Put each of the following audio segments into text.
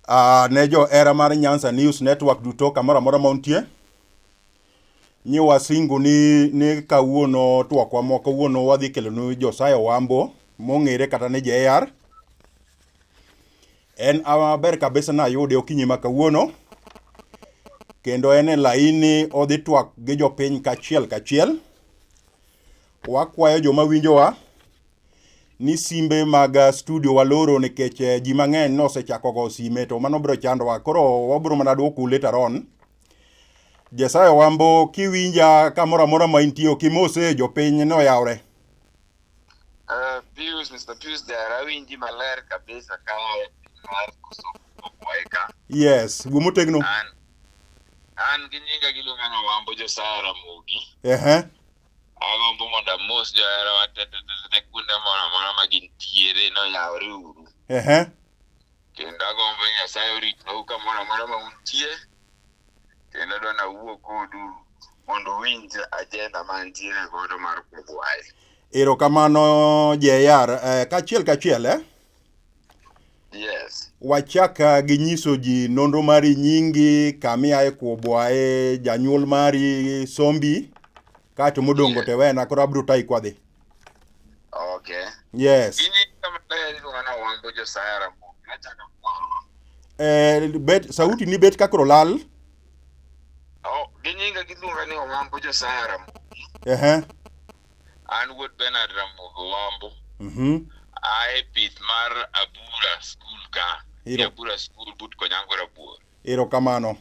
Uh, ne johera mar Nyanza News Network duto kamoro amora ma untie nyi wasingu ni, ni kawuono twakwa moko kawuono wadhi kelonu Josiah Wambo mong'ere kata ni JR en aber kabisa nayude okinyi ma kawuono kendo en e laini odhi twak gi jopiny kachiel kachiel Wakwayo joma winjowa ni simbe mag uh, studio waloro nikech uh, ji mang'eny nosechako go sime to mano biro chandowa. Koro wabiro mana dwokou later on. Jesayo Wambo kiwinja kamoro amora ma intie ok imose jopiny noyawre. Uh, Pius, Mr. Pius Dara, awinji maler kabisa ka mar koso kwaye ka. Yes, wuo motegno. An, an gi nyinga giluonga ni Wambo Josaya Ramogi. Ehe. Agombo mondo amos joherawa te te te te kuonde moro amora ma gintiere ni oyawre uru. Ehe. Kendo agombo ni Nyasaye oritnu kamoro amora ma untie. Kendo adwa ni awuo kodu mondo uwinj ajenda ma antiere godo mar Kudhwayo. Erokamano JR. Eh, kachiel kachiel eh? Yes. Wachaka gi nyiso ji nonro mari nyingi, kamiaye kuobwaye, janyuol mari, sombi, kaeto modongo te wena koro abiro tayi kwadhi. Okay. Yes. Ginyinga maler iluonga na Wambo Josiah Ramogi. Nachaka kuoro. Eh, bet, sauti ni bet kakoro lal. Oh, ginyinga giluonga ni Wambo Josiah Ramogi. Ehe. An wuod Bernard Ramogi Wambo. Mhm. Ae pith mar Abura School ka. Iro. Abura School but Konyango Rabuor. Erokamano.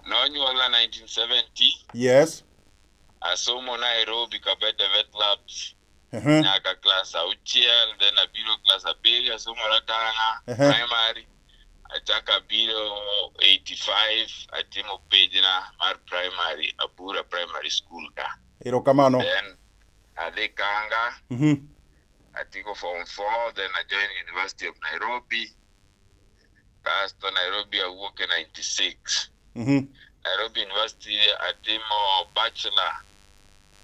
Nonyuola 1970. Yes. Asomo Nairobi Kabete Vet Labs Ehe. nyaka class auchiel then abiro class abiriyo asomo Ratanga Ehe. primary achako abiro 85 atimo pejna mar primary Abura Primary School ka. Erokamano. Then adhi Kanga, Mhm. atieko form four, then I joined University of Nairobi. Kasto Nairobi awuok e 96. Mhm. Nairobi University atimo Bachelor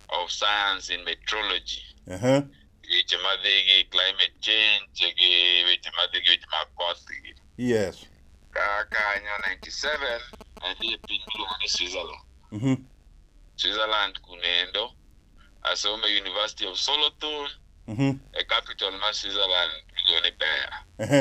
of Science in Meteorology. Ehe. weche madhi gi climate change gi weche madhi gi weche mag koth gi yes ka kanyo 97 adhi e piny miluongo ni switzerland Mhm. switzerland kunendo asome university of solothurn Mhm. e capital ma switzerland miluongo ni bern Ehe.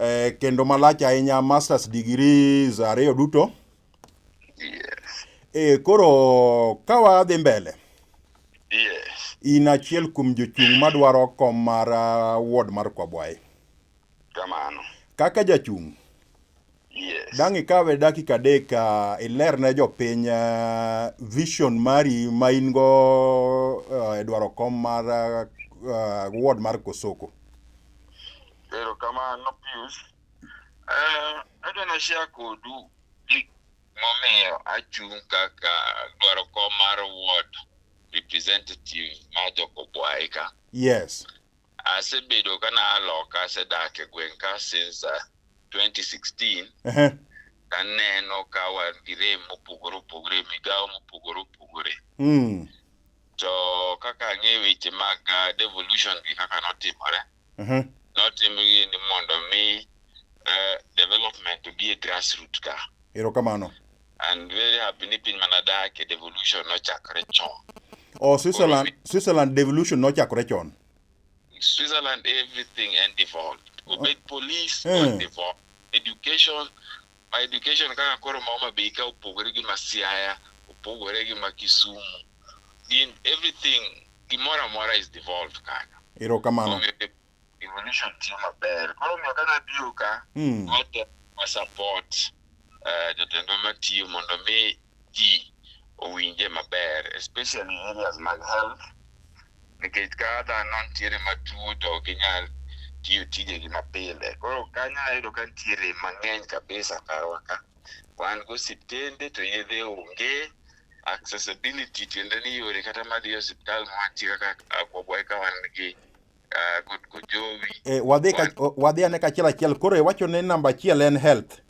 eh, kendo malach ahinya masters degrees ariyo duto Yes. eh, koro ka wadhi mbele Yes. in achiel kuom jochung' madwaro kom mar ah, ward mar kwabwaye Kamano. kaka jachung' Yes. Dang' ikawe dakika adek uh, iler ne jopiny uh, vision mari ma in go uh, e dwaro kom mar uh, uh, ward mar Kosoko. Ero kamano Pius. Eh, adwa na share kodu gik momiyo achung' kaka dwaro kom mar ward representative ma Jokobwaika. Yes. Asebedo ka na aloka asedak e gweng' ka since uh, 2016 Ehe. taneno ka wan gi rem mopogore opogore migawo mopogore opogore Mm. to kaka ang'e weche mag uh, devolution gi kaka notimore Ehe. notimgi ni mondo mi uh, development obi e grassroot ka Erokamano. and very happy ni piny mana dak e devolution nochakre chon oh switzerland switzerland devolution nochakre chon switzerland everything and devolved obed oh. police mm. devolved education ma education kaka koro ma homa bay ka opogore gi ma siaya opogore gi ma kisumu in everything gimoro amora is devolved kanyo erokamano evolution tiyo maber. Koro omiyo ka nabiro ka, Mm. wate wa support eh, jotendwa matiyo mondo mi ji owinje maber especially areas mag health nikech ka dhano nitiere matuo to ok ginyal tiyo tijegi mapile koro kanyo ayudo ka nitiere mang'eny kabisa karwa ka wan go osiptende to yedhe onge accessibility tiende ni yore kata madhi e osiptal mwantie kaka agwagwa eka wan gi Ah, good good jowi. Eh, wadhi ka wadhi ane kachiel achiel. Koro iwacho ni namba achiel en health.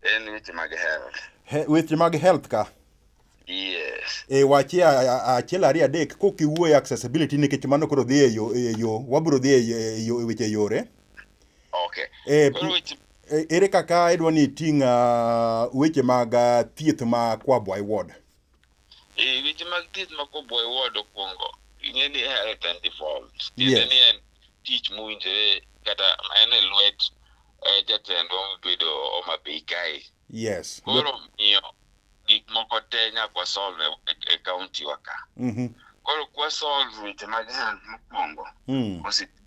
En weche mag health. He, weche mag health ka. Yes. E wachi achiel ariyo adek kok iwuoyo accessibility nikech mano koro dhi e yo e yo wabro dhi e yo e, e weche yore. Okay. E, e, ere kaka idwa ni iting' uh, weche mag uh, thieth ma Kwabwa Ward? Eh, weche mag thieth ma koboy ward okwongo ing'e ni health and devolved tiende Yes. ni en tich mowinjore kata en e lwet eh, jatendwa mobedo Homa Bay kae Yes. koro miyo gik moko te nyaka wasolve e- e kaunti wa ka Mhm. koro kwasolve weche mag health mokwongo Mm. osiptal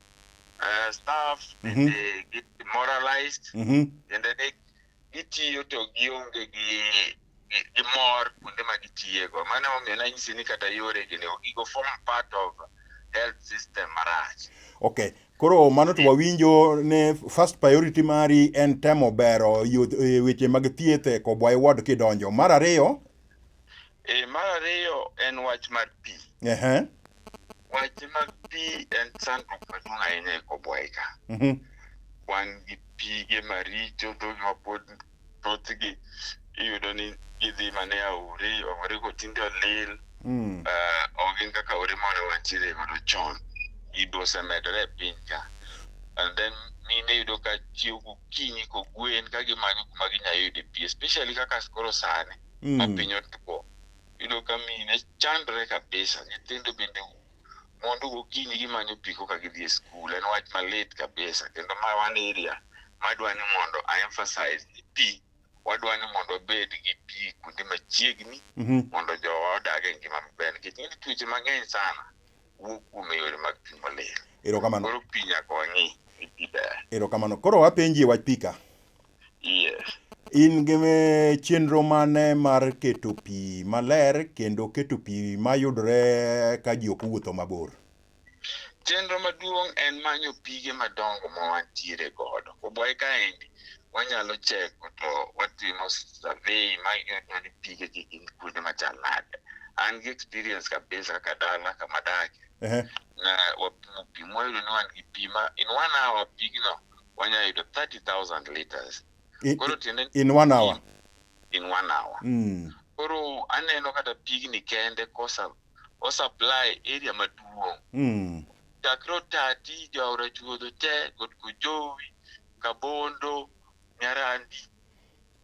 uh, staff mm -hmm. they get demoralized mm -hmm. and then gitiyo to gionge gi gi mor kuonde ma gitiyego mano omiyo nanyisi ni kata yore gini gigo form part of health system marach okay koro mano to wawinjo ne first priority mari en temo bero e, weche mag thieth e kobwa e ward kidonjo mar ariyo e, mar ariyo en wach mar pi uh -huh. Weche mag pi en chandruok maduong' ahinya e Kobwai ka. Mhm. Wan gi pige maricho to ma pod thothgi iyudo ni gidhi mana e aore, aore go tinde olil. Mm. Ah, ok gin kaka aore mane wantiere godo chon. Gigo osemedore e piny ka. And then mine yudo ka chiewo gokinyi kogwen ka gimanyo kuma ginya yude pi, especially kaka koro sani ma Mm. piny otwo. iyudo ka mine chandre kabisa nyithindo bende mondo gokinyi gimanyo pi koka gidhi e skul en wach malit kabisa kendo ma wan area madwa ni mondo a emphasize ni pi wadwa ni mondo wabed gi pi kuonde machiegni mondo jowa odag e ngima maber nikech ng'eny tuoche mang'eny sana wuo kuom yore mag pi molil. Erokamano. Koro pi nyaka wang'i ni pi ber. Erokamano. Koro apenji e wach pi ka. Yes. In gi eh, chenro mane mar keto pi maler kendo keto pi mayudore ka ji ok owuotho mabor? Chenro maduong' en manyo pige madongo ma wantiere godo. Kobwayi kaendi, wanyalo cheko to watimo survey ma ing'eyo ni pige gi gin kuonde machal nade. An gi experience kabisa kaka dala kama adake. Ehe. Na wapimo pi mwayudo ni wan gi pi ma in one hour pigno wanya yudo 30,000 liters. I- Koro tiende ni in one hour in one hour. Mm. Koro aneno kata pigni kende kosa o supply area maduong' Mm. chakre Otati, Jaora Chuodho te, Got Kojowi, Kabondo, Nyarandi,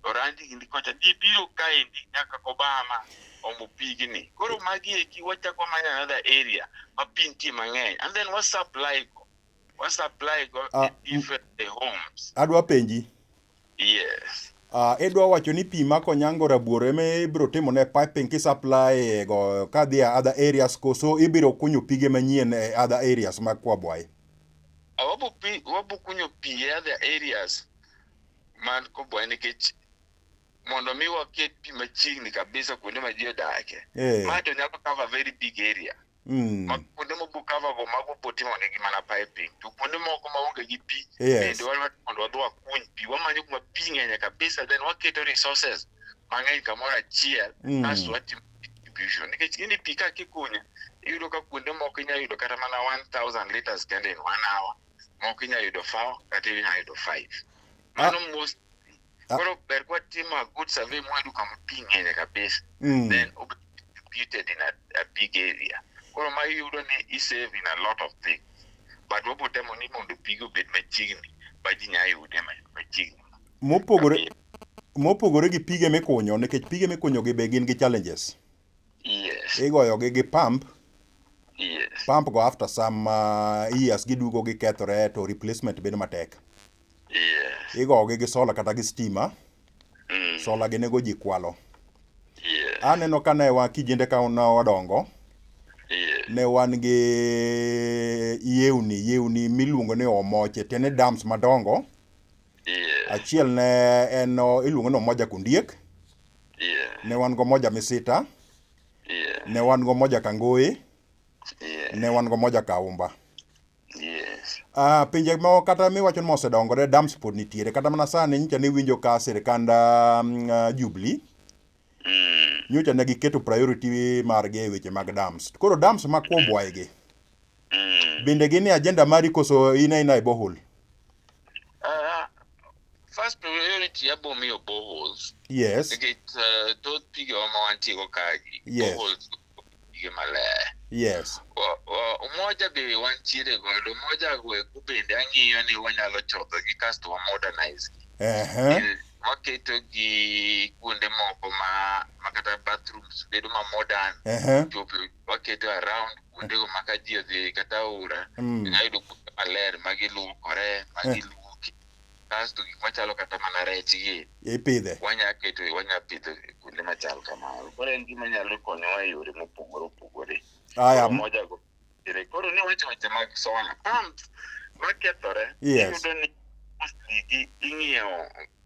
Orandi gini kocha gibiro kaendi nyaka Kobama omo pigni. Koro magi eki wachako manyo another area ma pi nitie mang'eny and then wa supply go. wa supply go Ah, e different the homes Adwa penji. yes Uh, idwa wacho ni pi ma konyango rabuor ema ibiro timo ne piping ki supply e go ka dhi a other areas koso ibiro kunyo pige manyien e other areas mag Kwabwayi. Ah, wabu pi wabu kunyo pi e other areas man kobwa nikech mondo mi waket pi machiegni kabisa kuonde ma ji odake Eh. ma to nyalo cover very big area Mm. Ma kuonde mogo cover go mago poti mondo gi mana piping. To kuonde moko ma onge gi pi Yes. bende wadwa mondo wadhi wakuny pi. Wamanyo kuma pi ng'enye kabisa then waketo resources mang'eny kamoro achiel Mm. kasto watimo distribution. Nikech gini pi ka kikunyo iyudo ka kuonde moko inyalo yudo kata mana 1000 liters kende in one hour. Moko inyalo yudo four kata inyalo yudo five. Mano most Ah. koro ber kwa timo a good survey mwayudo kama pi ng'enye kabisa Mm. then ob- distributed in a, a big area koro ma iyudo ni isave in a lot of things but wabotemo ni mondo pigi obed machiegni ma ji nya yude ma- machiegni Mopogore mopogore gi pige mikunyo nikech pige mikunyo gi be gin gi challenges. Yes. igoyogi gi pump Yes. pump go after some uh, years gidugo gikethore to replacement bedo matek Yes. igogi gi sola kata gi stima Mm. sola gi nego ji kwalo Yes. aneno ka ne wa kijende ka ne wadongo Yes. ne wan gi yewni yewni miluongo ni omoche tiende dams madongo Yes. achiel ne en o- iluongo ni omoja kundiek Yeah. Ne wan go moja Misita. Yeah. Ne wan go moja Kangoi. Yeah. Ne wan go moja Kaumba. Yes. Uh, pinje moko kata miwacho ni mosedongore dams pod nitiere kata mana sani nyicha ne winjo ka sirkand um, uh, Jubilee mm. nyocha ne giketo priority margi e weche mag dams. Koro dams ma kwobwaigi. Mm. Mm. Bende gin e agenda mari koso in aina e borehole? Uh, first priority abo miyo boreholes. Yes. Nikech uh, thoth pige wa ma wantie go kagi. Yes. Boreholes pige maler. Yes. Wa- wa- Umoja be wantiere godo. Umoja go eko bende ang'iyo ni wanyalo chodho gi kasto wa modernize gi. Ehe. Eh, waketo gi kuonde moko ma ma kata bathrooms bedo ma modern Ehe. to waketo around kuondego ma ka ji odhi kata aora Mm. inyalo yudo kuonde maler ma giluokore ma Eh. giluoki kasto gik machalo kata mana rech gi Ipidhe. wanya keto wanya pidho e kuonde machal kamano koro en gima nyalo konyowa e yore mopogore opogore Aya. Koro moja go ere koro ni wacho weche mag solar pumps makethore Yes. iyudo ni mostly gi ing'iewo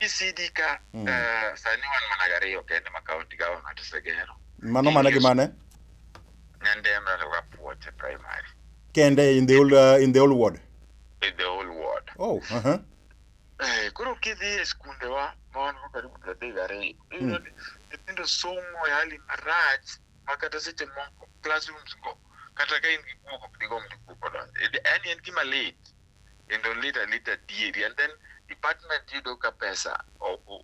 ECD ka Mm. eh, sani wan mana gariyo kende ma kaunti government osegero. Mano mana gi mane? Nyandema to Kapuoch e primary Kende in the whole, uh, in the whole ward. in the whole world. Oh, uh-huh. Eh, koro kidhi e skundewa ma wan go karibu pradek gariyo iyudo ni nyithindo somo e hali marach ma kata seche moko classrooms go kata ka in gi guok ok digomb ni guok odonj yaani en gima lit kendo lit alita adieri and then department yudo ka pesa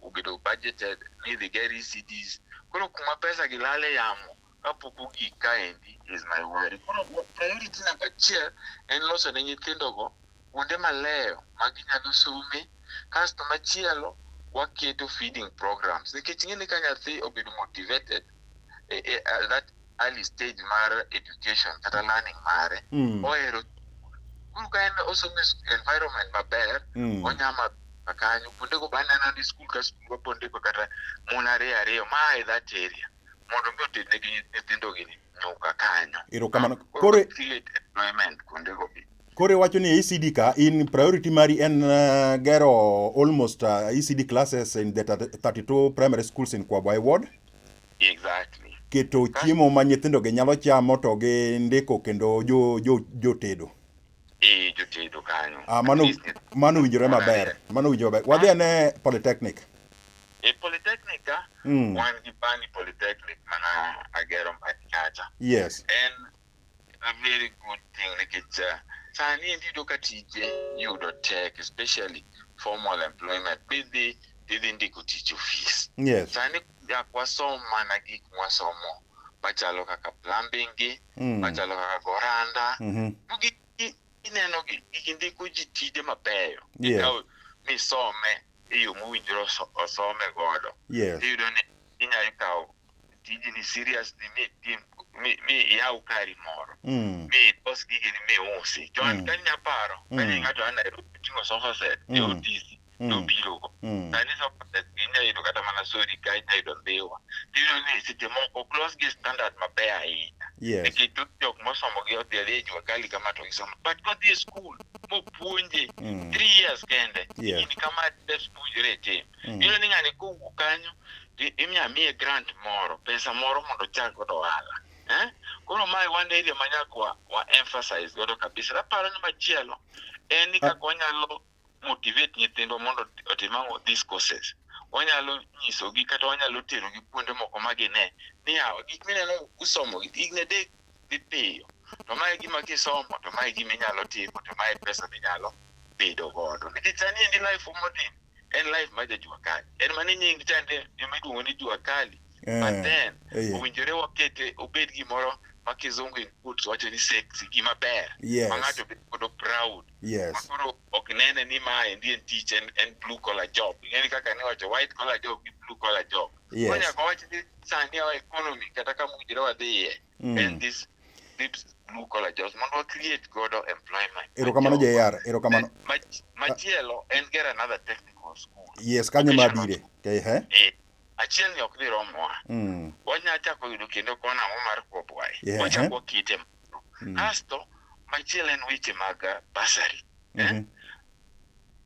obedo budgeted ni idhi ger ECDs koro kuma pesa gi lale yamo kapok ogik kaendi is my worry. Koro priority namba achiel en loso ne nyithindo go kuonde maleyo ma ginyalo some. Kasto machielo waketo feeding programs nikech ing'e ni ka nyathi obedo motivated e, e, at that early stage mar education kata learning mare Mm. ohero skul ka en osomo e sk- environment maber Mm. onya ma ma kanyo kuondego baneno ni skul ka skul wapondego kata mon ariyo ariyo ma a e that area mondo mi otednegi nyithindogi nyuka kanyo Erokamano. Koro Koro- create employment kuondego be Koro iwacho ni ECD ka in priority mari en uh, gero almost uh, ECD classes in the 32 primary schools in Kwabwa ward. Exactly. Keto chiemo ma nyithindo gi nyalo chamo to gi ndiko kendo jo jo jotedo. Eh, jotedo kanyo. Ah, mano mano winjore maber. Mano winjore maber. Wadhi ane Polytechnic. E Polytechnic ka mm. wan gi Bani Polytechnic mana agero mbati kacha. Yes. En A very good thing nikech uh, sani endi iyudo ka tije yudo tek especially formal employment bidhi idhi ndiko tich ofis Yes. sani yak wasom mana gik mwasomo machalo kaka plumbing gi Mm. machalo kaka goranda Mhm. Gi- gi- ineno gi- gi- ndiko ji tije mabeyo Yeah. ikaw misome e yo mowinjore oso- osome godo Yes. iyudo ni inyalo kawo tiji ni serious ni mi tim mi mi iyaw kari moro Mm. mi ilos gigi ni mi usi chon Mm. ka nya paro ka Mm. ni ng'ato a Nairobi ting'o sofa set e Mm. otisi to Mm. obiro go Mm. sani sofa set inya yudo kata mana sori ka inya yudo mbiwa tiyudo ni seche moko close gi standard maber ahinya Yes. nikech thoth jok mosomo gi odhi adhiya e jua kali kama to gisomo but kodhi e skul mopuonje Mm. three years kende Yes. in kama dep puonjore e tim Mm. iyudo ni ng'ani kowuok kanyo i- imiya miye grant moro pesa moro mondo ochak godo ohala eh? koro mae wan area ma nyaka wa, wa emphasize godo kabisa aparo ni machielo en ni kaka wanyalo motivate nyithindwa mondo otim ang'o these courses wanyalo nyisogi kata wanyalo terogi kuonde moko ma gine ni yawa gik mineno usomo igne dek dhi piyo to mae gima kisomo to mae gima inyalo timo to mae pesa minyalo bedo godo nikech sani endi life modhi en live ma jajua kali en mane nying chande ema iluongo ni jua kali Eh, but then eh, owinjore wakete obed gimoro ma kizungu in quotes wacho ni sexy gima ber ma yes ng'ato bedo godo proud ma yes koro ok nene ni ma endi en tich en, en blue collar job ing'eni kaka ne wacho white collar job gi blue collar job koro yes nyaka wach ni sani our economy kata kama owinjore wadhiye Mm. en this this blue collar jobs mondo wa create godo employment Erokamano Machielo- JR, erokamano. Eh, mach- machielo en get another technical school Yes, kanyo ma abire. Ehe. Eh, achiel ni ok dhi romowa Mm. wanya chako yudo kendo kona ang'o mar kwobwaye Yeah. wachako wakite moro Mm. kasto machielo en weche mag uh, basari Mhm.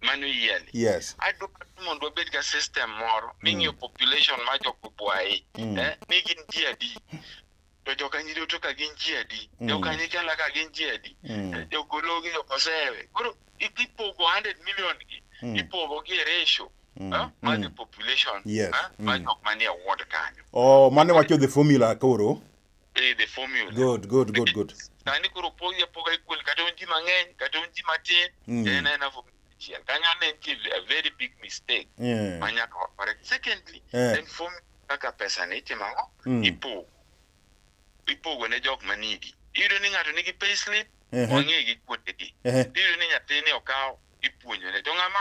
mano yieni yes adwaro ni mondo wabed ga system moro ming'iyo population ma jokobwayi Mm. eh, ni gin ji adi to jokanyiri to ka gin ji adi Mm. jokanyikela ka gin ji adi Mm. jogologi jokosewe koro i- ipogo 100 million gi Mm. ipogo gi e ratio Mm. eh, ma the Mm. population Yes. eh, ma Mm. jok manie ward kanyo oh mane wacho the formula koro eh, the formula Good, good, good, good. sani koro pogi apoga equal kata un ji mang'eny kata un ji matin Mm. en aena formula achiel kanyo ane nitie a very big mistake Yeah. ma nyaka wa correct secondly Eh. en formula kaka pesa ni itimo ang'o Mm. ipogo ipogo ne jok ma nigi iyudo ni ng'ato nigi pay slip Ehe. wang'egi kuondegi Ehe. iyudo ni nyathini okawo ipuonjone to ng'ama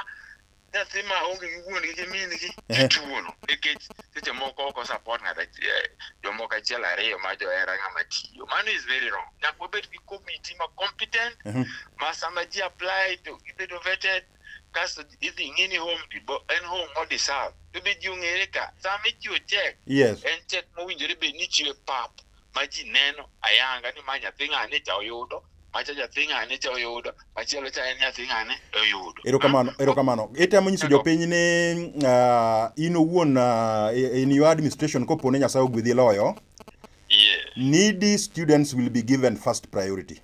nyathi ma onge gi wuon gi min gi ituono nikech seche moko oko support ng'at achiel jomoko achiel ariyo ma johera ng'ama tiyo mano is very wrong nyaka wabed gi committee ma competent mhm. ma sama ji apply to gibedo vetted kasto idhi ng'i ni home en home mo deserve to be ji ong'ere ka sama ichiwo check yes. en check mowinjore bed ni ichiwe pap ma ji neno ayanga ni ma nyathi ng'ane cha oyudo macha nyathi ng'ane cha oyudo machielo cha en nyathi ng'ane oyudo erokamano erokamano itemo nyiso jopiny ni uh, in owuon uh, in your administration kopo ni nyasaye ogwedhi loyo yeah. needy students will be given first priority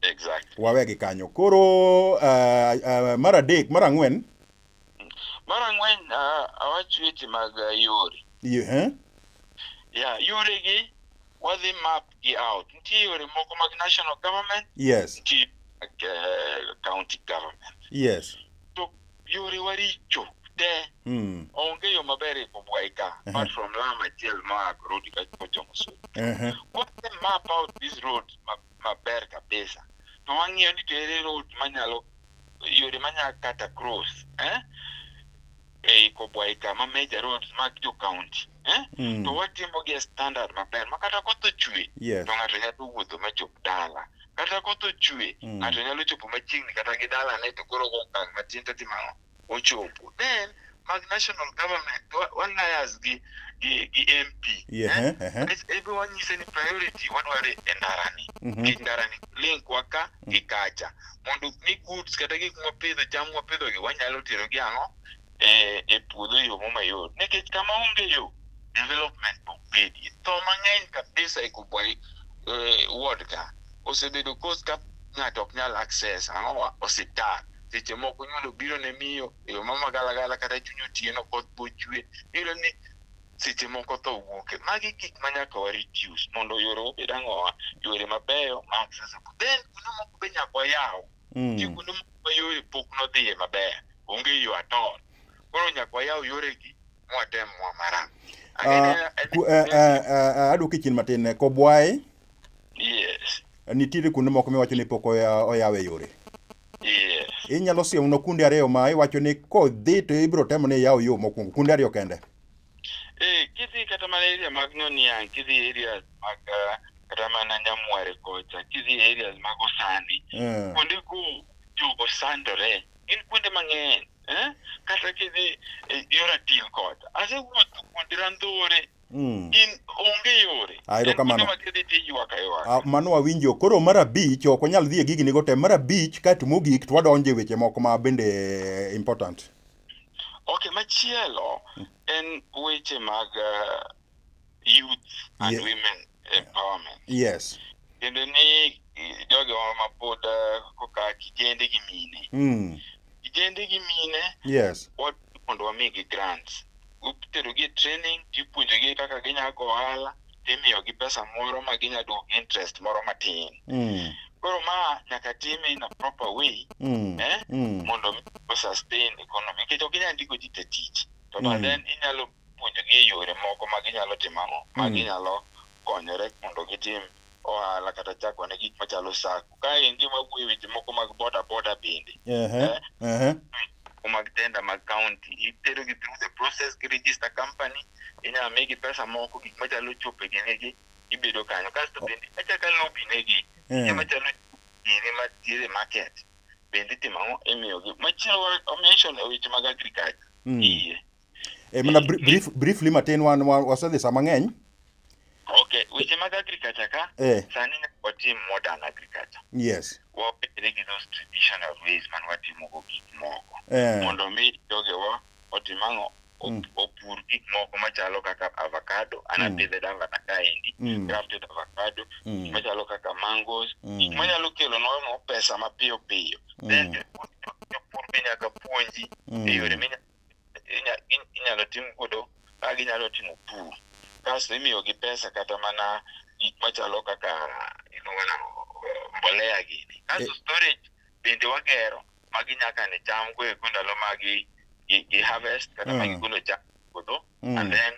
exactly. wawegi kanyo koro uh, uh, mar adek mar ang'wen Mar ang'wen ah, awach weche mag ah, yore. Ehe. Yeah, yore gi wadhi map gi out. Nitie yore moko mag national government, Yes. nitie mag eh, county government. Yes. To yore waricho te Mm. onge yo maber e Kobwai ka Aha. apart from lam achiel ma Rudi ka kochomo Sudi. Ehe. What the map out these roads ma maber kabisa to wang'iyo ni to ere road manyalo yore manyalo kata cross eh? ei kobwai kama major roads mag jo county eh? Mm. to watimo gi e standard maber ma kata koth ochwe Yes. to ng'ato nyalo wuotho machop dala kata koth ochwe Mm. ng'ato nyalo chopo machiegni kata gi dalane to koro go okang' matin to timo ang'o ochopo then mag national government wa- walias gi gi, gi mp Yeah, eh? eh, eh. Bas, ebe wanyise ni priority wadware e ndarani Mhm. gi ndarani link waka gi kacha mondo ni goods kata gik mwapidho cham mwapidhogi wanyalo tero gi ang'o e, e puodho e yo momayot nikech kama onge yo development ok bedie tho mang'eny kabisa e kubwa eh, ward ka osebedo cause ka ng'ato ok nyal access ang'o osiptal seche moko nyundo biro ne miyo e yo mamagalagala kata chuny otieno koth bochwe iyudo ni seche moko tho wuoke magi gik ma nyaka wa reduce mondo yore obed ang'owa yore mabeyo ma accessible then kuno moko be nyaka wayaw Mm. Nitie kuonde moko ma yore pok nodhiye maber onge yo atol koro nyaka wayaw yoregi mwatem mwa maram ah, eh, eh, eh, adwoki chien matin ne kobwaye yes nitiere kuonde moko miwacho ni pok oyawe yore yes inyalo siemno kundi ariyo ma iwacho ni kodhi to ibiro temo ni iyaw yo mokwongo kundi ariyo kende eh kidhi kata mana area mag noniang kidhi areas mag uh, kata mana nyamware kocha kidhi areas mag osani kuonde go jogo sandore gin kuonde mang'eny eh? kata kidhi eh, yo ratil kod asewuotho kuonde randhore Mm. in onge yore Ah, erokamano. En kuonde ma kidhi tiywak aywak Ah, mano wawinjo koro mar abich ok wanyal dhi e gigi nigo te mar abich kaeto mogik to wadonje weche moko ma bende eh, important ok machielo en weche mag eh, youth and yeah. women empowerment yes kendo ni jogo ma pod eh, koka kijende gi mine mm. kijende gi mine yes mondo wamigi grants uterogi training tipuonjogi kaka ginya go ohala timiyogi pesa moro ma ginya duoko interest moro matin mm. koro ma nyaka time in a proper way mm. eh? mm. mondo mi sustain economy nikech ok inyal ndiko ji te tich to mm. then inyalo puonjogi e yore moko ma ginyalo timo ang'o, ma mm. ginyalo konyore mondo gitim ohala kata chako ne gik machalo sako. Kaendi wawuoye weche moko mag boda boda bende. Eh? mag tenda mag kaunti itero gi through the process gi register company inyalo migi pesa moko gik machalo chope ginigi ibedo kanyo kasto bende achaka lobi negi eh. gik machalo gini matiere market bende itimo ang'o imiyogi machielo omention e weche mag agriculture hmm. iye E mana bri- brief, briefly matin wan wa- wasedhi sama ng'eny. Okay, weche mag agriculture ka Eh, sani nyaka watim modern agriculture. yes. Wawere gi those traditional ways man watimogo gik moko. Eh, Mondo mi jogewa otim ang'o? Op- Mm. Opur gik moko machalo kaka avocado, Mm. anapidhe davana kaendi, mm, grafted avocado, mm, machalo kaka mangoes, mm, manyalo kelo nwa pesa mapiyo piyo. Then mm, jopur jopur be nyaka puonji e yore mm, minyalo inyalo tim godo ma ginyalo timo pur kasto imiyogi pesa kata mana gik machalo kaka mbolea gini. Kasto storage bende wagero ma ginya kane cham go eko ndalo ma gi harvest kata ma gigolo cham e puodho and then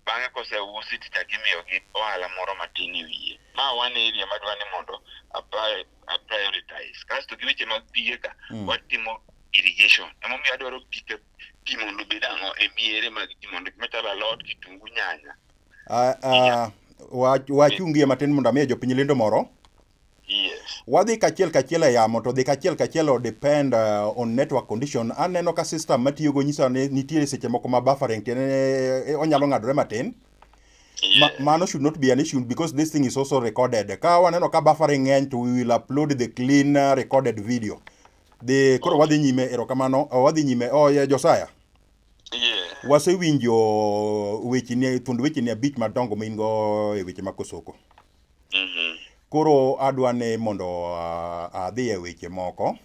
Bang'e koseusi to ichako imiyogi ohala moro matin e wiye. Ma one area madwa ni mondo a prioritize. Kasto gi weche mag pige ka, watimo irrigation. Emomiyo adwaro pi ka pi mondo obed ang'o e miere mag ji mondo gik machalo alot, kitungu, nyanya. Ah, ah, wa- wachungie matin mondo amiye jopiny lendo moro. Yes. Wadhi kachiel kachiel e yamo to dhi kachiel kachiel o depend uh, on network condition. Aneno ka system matiyo go nyisa ni nitie seche moko ma buffering tiene eh, onyalo ng'adore matin. Ma, Yes. mano should not be an issue because this thing is also recorded. Ka waneno ka buffering ng'eny to we will upload the clean uh, recorded video. The koro wadhi nyime erokamano oh, wadhi nyime oh yeah, Josiah. Yeah. Wasewinjo wecheni thuond wecheni abich madongo ma in go e weche mag Kosoko. Mhm. Koro adwa ni mondo ah, adhi e weche moko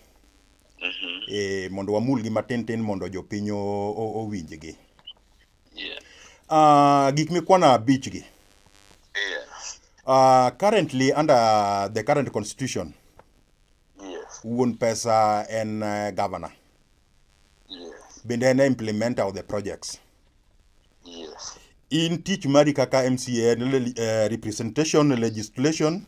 Mhm. eh, mondo wamulgi matin tin mondo jopiny o- o- owinjgi. Yeah. Ah, gik mikwano abichgi. Yeah. Ah, currently under the current constitution, Yes. wuon pesa en eh, governor. Yes. bende en e implementer of the projects Yes. in tich mari kaka mca en le- eh, representation legislation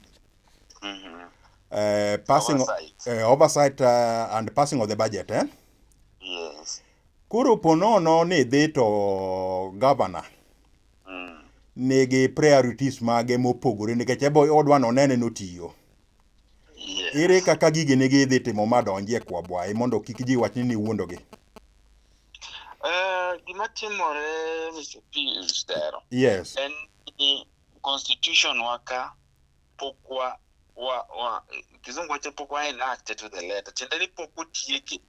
Mm-hmm. eh, passing Oversight. eh, oversight eh, and passing of the budget eh? Yes. koro ponono ni idhi to governor Mm. nigi priorities mage mopogore nikech ebo odwa nonene notiyo Yes. Ere kaka gigi ne gidhi timo ma donjie kwa bwaye mondo kik ji wach ni niwuondogi? Eh, gima timore Mr. Pius Dero Yes. en ni constitution waka pok wa wa wa kizungu wacho pok wa enacted to the letter tiende ni pok otieke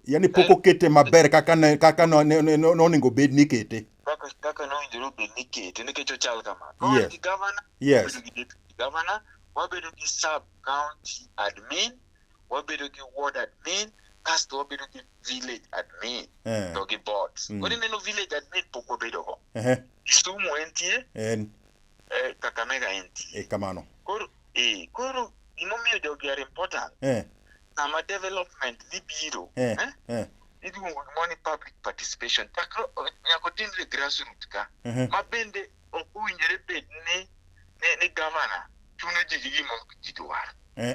Yaani pok okete maber kaka ne kaka no- ne- ne- ne- nonego bed ni ikete. kaka kaka nowinjore obed ni ikete nikech ochal kamano. Yes. Wabedo gi gavana, Yes. wabedo gi deputy gavana, wabedo gi sub county admin, wabedo gi ward admin, kasto wabedo gi village admin Eh. to gi boards. Mm. Koro ineno village admin pok wabedo go. Ehe. Kisumu entie, En eh, Kakamega entie. e kamano. Koro eh, koro gimomiyo jogi are important Eh. sama development dhi biro eh, eh, eh. iluongo gimoro ni public participation chakre nyaka otimre grassroot ka mhm. ma bende ok owinjore bed ni ni gavana chuno ji gi gima ji dwaro eh,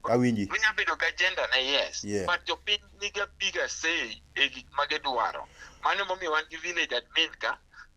awinji onya bedo gi agenda ne yes yeah. but jopiny niga bigger say e gik ma gidwaro mano momiyo wan gi village admin ka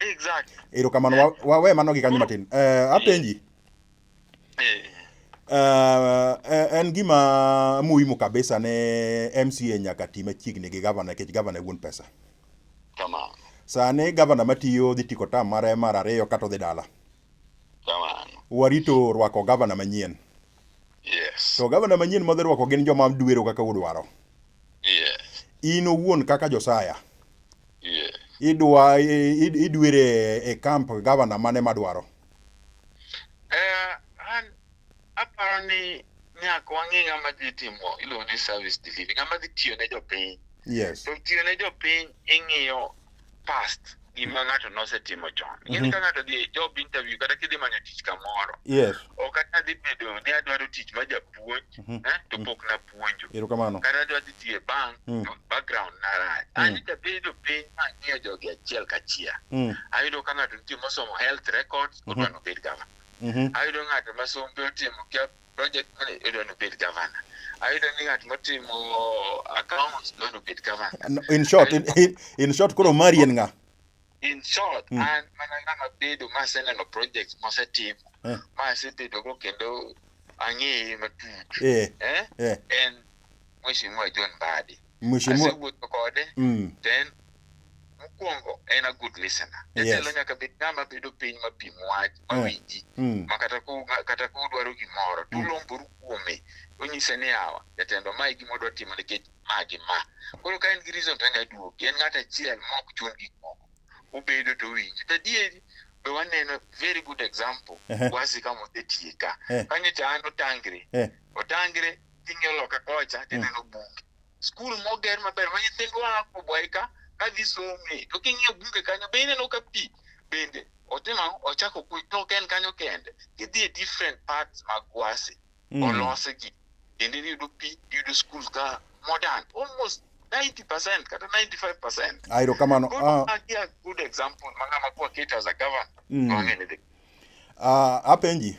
Exactly. Erokamano wa- wawe mano gi kanyo matin. Eh, apenji. Eh, Eh, eh, en gima muhimu kabisa ne MCA nyaka ti machiegni gi gavana nikech gavana e wuon pesa. Tamam. Sani gavana matiyo dhi tiko tam mare mar ariyo kata odhi dala. Kamano. Warito rwako gavana manyien. Yes. To gavana manyien mwadhi rwako gin joma duero kaka udwaro. Yes. In owuon kaka Josaya. Yes. Idwa idwere e camp gavana mane madwaro? Eh, an aparo ni nyaka wang'e ng'ama dhi timo iluongo ni service delivery ng'ama dhi tiyo ne jopiny yes. to tiyo ne jopiny ing'iyo past gima ng'ato nosetimo chon ing'eni Mhm. ka ng'ato dhi e job interview kata kidhi manyo tich kamoro yes ok ata dhi bedo ni adwaro tich ma japuonj Mhm. eh, to Mhm. pok napuonjo erokamano kata adwa dhi tiyo e bank Mm. to background narach Mm. ani jabedo piny mang'iyo jogi achiel kachiel Mm, ayudo ka ng'ato nitie mosomo health records Mhm. odwa nobed gava mhm, ayudo ng'ato ma sombe otimo kia project manager idwa ni obed governor. Ayudo ni ng'at motimo accounts idwa ni obed governor. No, In short, in, in, in short koro mari en ng'a? In short, Mm. an mana ng'ama bedo ma aseneno projects mosetimo Eh. ma asebedogo kendo ang'eye matut Eh, eh? eh. en Mheshimiwa John Mbadi. Mheshimiwa asewuotho kode mm, to en mokwongo en a good listener Yes. jatelo nyaka bed ng'ama bedo piny ma pim wach ma Eh. winji mm, ma kata ku kata ku dwaro gimoro to Mm. ulomboru kuome onyise ni awa jatendo ma e gima odwa timo nikech ma gi ma koro ka en gi reason to anya duoki en ng'at achiel ma ok chun gik moko ubedo to winji to adieri be waneno very good example Ehe. wasi kama osetiye ka Eh. kanyo cha an otangre Eh. otangre ing'iyo loka kocha Mm. tineno bunge skul moger maber ma nyithindwa a kubwayi ka kadhi some to king'iyo bunge kanyo be ineno ka pi bende otimo ang'o? ochako kuny to ok en kanyo kende idhi e different parts mag gwasi Mm. olose gi kendo iyudo pi iyudo skul ka modern almost 90 percent kata 95 percent Ah, erokamano. Good, Ah, uh, yeah, good example. Mangama kwa Kate as a governor. mm. Wangene the Ah, apenji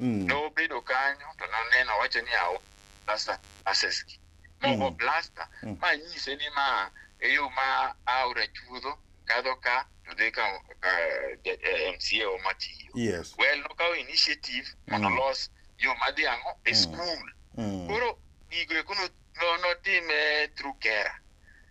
Mm. nobedo kanyo to naneno owacho ni awo plasta aseski mogo plasta Mm. ma nyise ni ma e yo ma aora chuodho kadho ka to dhi ka ka, eh, eh, mca oma tiyo Yes. well nokawo initiative mondo Mm. olos yo madhi ang'o e Mm. skul Mm. koro gigo eko no- no- notime through kera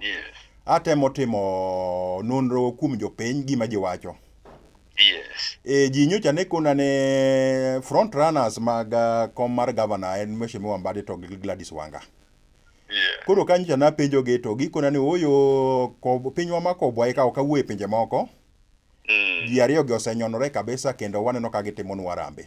Yes. Atemo timo nonro kuom jopiny gima jiwacho. Yes. E, ji nyocha ne kona ne front runners mag uh, kom mar governor en Mheshimiwa Mbadi to gi Gladys Wanga. Yeah. Koro ka nyocha napenjogi to gikona ni oyo kob- pinywa ma kobwa eka ok awuo e pinje moko. Mm. Ji ariyogi osenyonore kabisa kendo waneno ka gitimonwa rambe.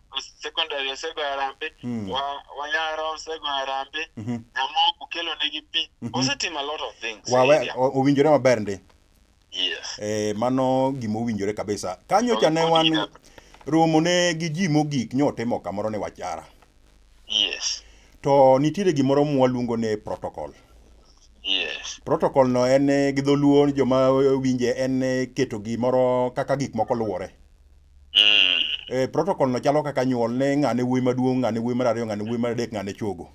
secondary osegoyo arambe Mm. wa- wayara osegoyo arambe Mhm. nyamoko kelo negi pi osetimo a lot of things Wawe, Area. o- owinjore maber ndi yes e, mano gima owinjore kabisa kanyocha ne wan Owinjore. romo ne gi ji mogik nyotimo kamoro ne wachara yes to nitiere gimoro mwaluongo ni protocol yes protocol no en eh, gi dholuo joma winje en eh, keto gimoro kaka gik moko luwore Eh, protocol no chalo kaka nyuol ne ng'ane wuoyi maduong', ng'ane wuoyi mar ariyo, ng'ane wuoyi mar adek, ng'ane chogo.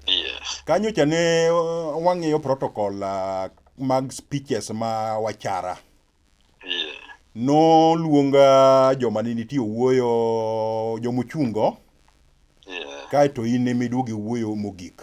Yes. Kanyo cha ne uh, wang'iyo protocol uh, mag speeches ma wachara. Yeah. Noluonga joma ne nitie owuoyo jomochungo Yeah. kaeto in ema iduogo iwuoyo mogik.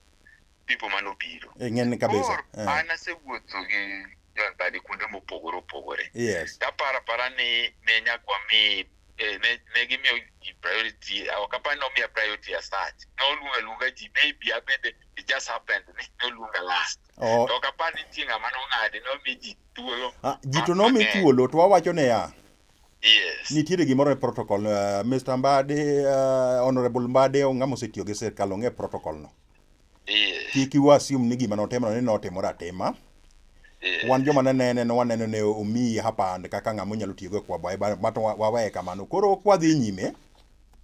people mane obiro. Eh, ng'eny kabisa. Koro Eh, an asewuotho gi jodhani kuonde mopogore opogore. Yes. Taparo apara ni ne nyaka wami eh, ne ne gimiyo ji priority ok apar ni omiya priority as such. Ne oluonga luonga ji maybe abende it just happened ni ne oluonga last. Oh, To ok apar ni nitie ng'ama nong'ade ne omi ji thuolo. ah, ji to nomi thuolo to wawacho ne ya. Yes. Nitiere gimoro e protocol uh, eh, Mr. Mbadi uh, Honorable Mbadi ng'ama osetiyo gi sirkal ong'e protocol no. Yes. Kik iwa assume ni gima notimo ni notimore atima. Yes. Wan joma ne nene no waneno ne omiyi hapa and kaka ng'ama onyalo tiyo go kwa bae but wawe kamano. Koro kwa dhi nyime.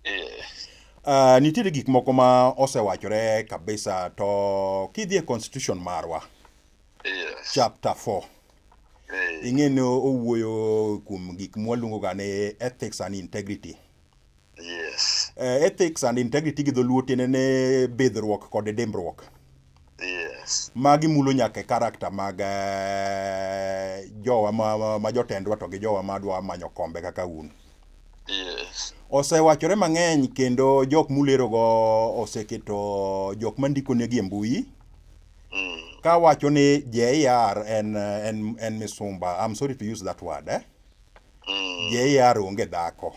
Yes. Uh, nitiere gik moko ma osewachore kabisa to kidhi e constitution marwa. Yes. Chapter 4. Eh, ing'e ni owuoyo kuom gik mwaluongo ga ni ethics and integrity yes Eh, ethics and integrity gi dholuo tiende ni bidhruok kod dimbruok yes magi mulo nyaka e karakta mag eh, jowa ma, ma- ma jotendwa to gi jowa ma dwa manyo kombe kaka un yes osewachore mang'eny kendo jok mulerogo oseketo jok mandiko negi e mbui mm. ka wacho ni JR en en en misumba I'm sorry to use that word eh mm. JR onge dhako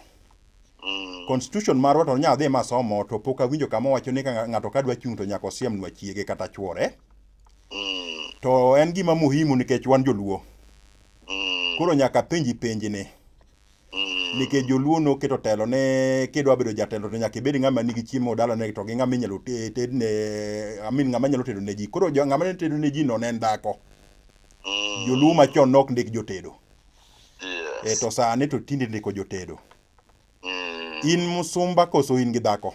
mm. constitution marwa to nyaka dhi masomo to pok awinjo kama wacho ni ka ng'ato ka dwa chung' to nyaka osiemnwa chiege kata chwore mm. to en gima muhimu nikech wan joluo mm. koro nyaka penji penji ni Mm. nikech joluo noketo telo ne kidwa bedo jatelo to nyaka ibed ng'ama nigi chiemo dalane to gi ng'ama inyalo te- tedne amin ng'ama nyalo tedo ne ji koro jo- ng'ama ne tedo ne ji no ne en dhako Mm. joluo machon nok ndik jotedo e Yes. to sani to tinde ndiko jotedo Mm. in musumba koso in gi dhako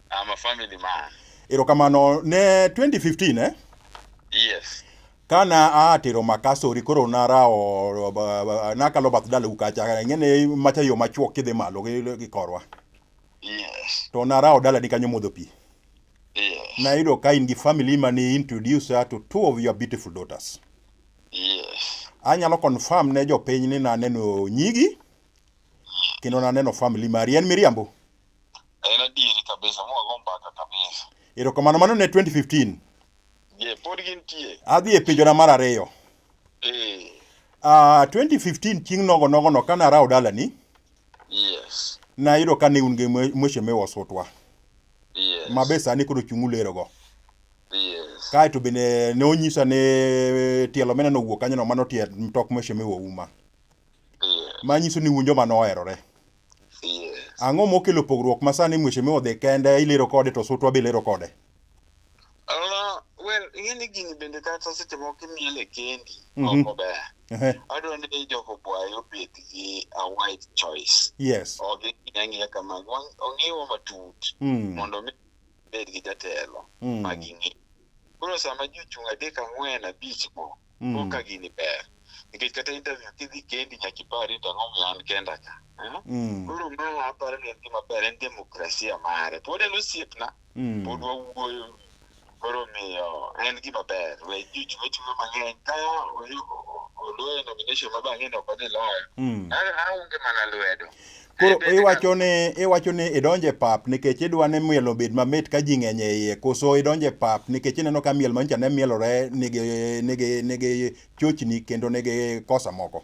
I'm a family man. Erokamano ne 2015 eh? Yes. Kana atero makasori koro narawo nakalo bath dalau kacha ng'ene macha yo machuok kidhi malo gi korwa. Yes. To narawo dalani kanyo modho pi. Yes. Nayudo ka in gi family mani introduce her to two of your beautiful daughters. Yes. Anyalo confirm ne jopiny ni naneno nyigi kendo naneno family mari en miriambo. En adieri kabisa, mwago mbaka kabisa. Erokamano, mano ne 2015. Je, pod gintie? Adhi e penjona mar ariyo. Eh. Ah, 2015 chieng' nogo nogo no kane arawo dalani, Yes. nayudo ka ne un gi mwe- mweche miwa osutwa, Yes. ma be sani koro chung' ulerogo. Yes. Kaeto bende ne onyisa ni eh, tielo mineno owuok kanyono mano tie mtok mweche miwa uma, Yes. ma nyiso ni un joma noherore. Yes. Ang'o mokelo pogruok ma sani mheshimiwa odhi kende ilero kode to sutwa be ilero kode? Uh, well, ing'e ni gini bende kata seche moko imiele kendi Mhm. ok ober. Ehe, Adwa ni joko bwayo obed gi a wide choice. Yes. Odhi ang'iya kamago, wang- ong'iwa matut Mm. mondo mi bed gi jatelo Mm. ma ging'e. Koro sama ji ochung' adek ang'wen abich go, Mm. Kok ka gini ber. Nikech kata interview kidhi kendi nyaka ipari to ang'o momiyo an kenda ka. Eh? Mm. Koro ma aparo ni en gima ber en demokrasia mare. Pod en osiepna, Mm. pod wawuoyo. Koro miyo en gima ber. We juju wechuno mang'eny ka oyu- oloyo nomination ma bang'e ne ok odhi loyo. Mm. An- Aonge mana lwedo. Koro iwacho ni iwacho ni idonjo e pap nikech idwa ni miel obed mamit ka ji ng'eny e iye koso idonjo e pap nikech ineno ka miel manyocha ne mielore nigi nigi nigi chochni kendo nigi kosa moko.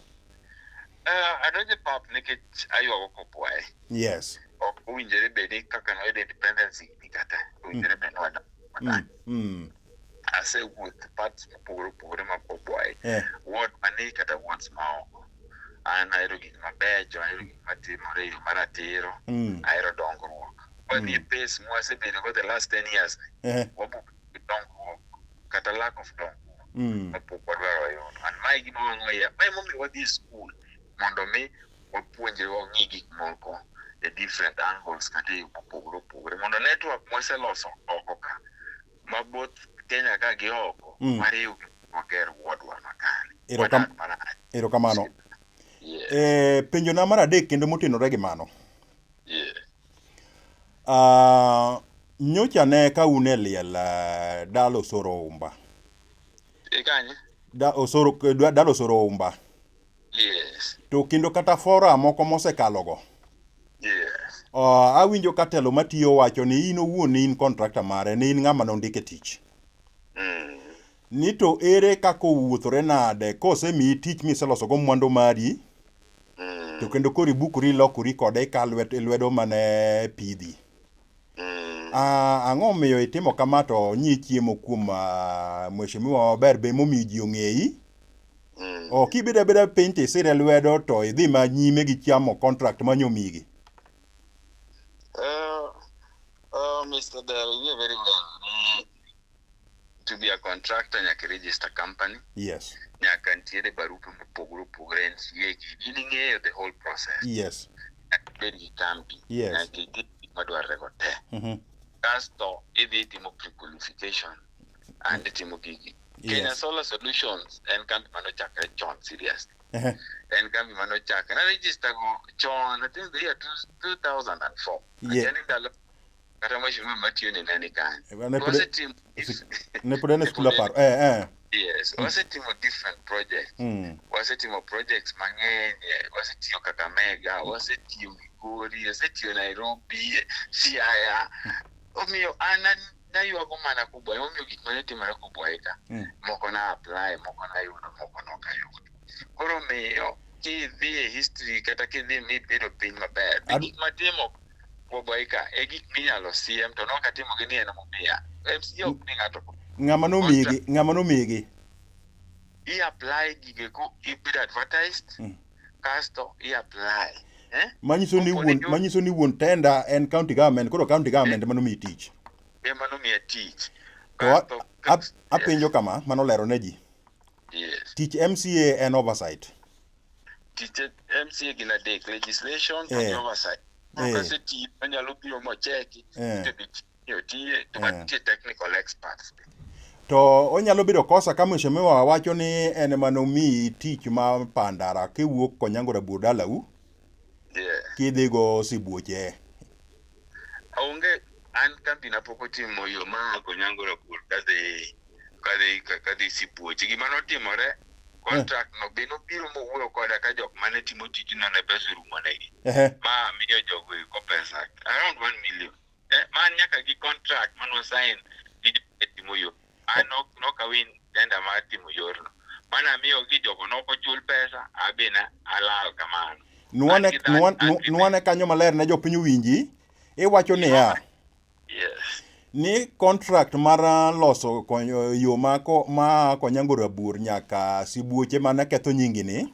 Uh, adonjo e pap nikech aywago kopwaye. Yes. Ok owinjore bedi kaka noyudo independence higni kata owinjore mm. bed ni wadonjo. Mm. Mm. asewuoth parts mopogore opogore ma koboye Eh. ward mani kata wards maoko an ahero gik mabecho ahero gik matimore e yo maratiro Mm. ahero dongruok wadhi e pace mwasebedo go the last 10 years Eh. wabuok gi dongruok kata lack of dongruok Mm. mapok wadwaro yudo an mae gima wang'o ya mae momiyo wadhi e skul mondo mi wapuonjre wang'i gik moko e different angles kata e yo mopogore opogore mondo network mwaseloso oko ka ma both Kenya ka gi oko mm. mariw wager wuodwa makare. Erokamano. Yes. E, penjona mar adek kendo motenore gi mano. Yes. Uh, nyocha ne ka un e liel uh, ah, dalo osoro umba. Ikanye? Da osoro dalo osoro umba. Yes. to kendo kata fora moko mosekalogo Yes. uh, awinjo ka telo matiyo wacho ni in owuon ni in kontrakta mare ni in ng'ama nondike tich Mm. ni to ere kaka owuothore nade kosemiyi tich miselosogo mwandu mari Mm. to kendo koro ibukori ilokori kode ka lwet, lwedo mane pidhi Mm. Ah, ang'o omiyo itimo kama to nyi chiemo kuom ah, mheshimiwa maber be momiyo ji ong'eyi Mm. oh, kibedo abeda piny to isire lwedo to idhi ma nyime gi chamo contract ma nyomigi Uh, uh, Mr. Dell, you very well. Mm. to be a contractor nyaka register company yes nyaka nitiere barupe mopogore opogore NCA gi in ing'eyo the whole process yes nyaka ibed gi kambi Yes. nyaka itim gik madwarore go te Mhm. kasto idhi timo pre-qualification and itimo gigi Yes. Kenya Solar Solutions en kambi manochakre chon serious Ehe. en kambi manochakre na register go chon I think the year two- 2004 Yeah. Achani ndalo kata mheshimiwa matiyo ni nani kanyo Eh, ne pod- wasetimo osik- ne pod en e skul aparo eh eh yes wasetimo different projects mm. wasetimo projects mang'eny eh, wasetiyo kakamega wasetiyo migori wasetiyo nairobi eh, siaya omiyo an an- naywago mana kubwa emomiyo gik mane timore kubwaeka Mm. moko na apply moko nayudo moko nokayudo koro omiyo kidhi e history kata kidhi e mit bedo piny maber be Ad- gik matimo Boboika e gik minyalo siem to nok atimo gi ni en momiya MCA ok mi ng'ato ng'ama nomigi ng'ama nomigi i apply gige ko ibedo advertised Mm. kasto i apply eh? manyiso ni Opo wuon ni jo- manyiso ni wuon tenda en county government koro county government ema nomiyi tich ema nomiya tich to a- Kasto- a- apenjo kama mano lero ne ji Yes. Tich MCA en oversight. Tich MCA gin adek, legislation eh. and oversight. Eh. Kasi ti onyalo biro mocheki, eh. to bit yo tiye, to eh. tie technical experts. To onyalo bedo kosa ka mheshimiwa wacho ni en mano mi tich ma pandara kiwuok Konyango Rabur dalau. Yeah. kidhi go sibuoche Onge an kambi na pok otimo yo ma ako nyango rapur kadhi kadhi kadhi sibuoche. Gima notimore contract no be nobiro mowuoyo koda ka jok mane timo tijno ne pesa orumo negi. ehe ma miyo jogo eko pesa around 1 million eh, man nyaka gi contract mano sign gi jotimo yo an nokawin denda mar timo yorno mane amiyogi jogo nokochul pesa abina alal kamano nwane kanyo maler ne jopiny winji iwacho niya ni contract mar uh, loso yo ma konyango rabur nyaka sibuoche mana ketho nyingini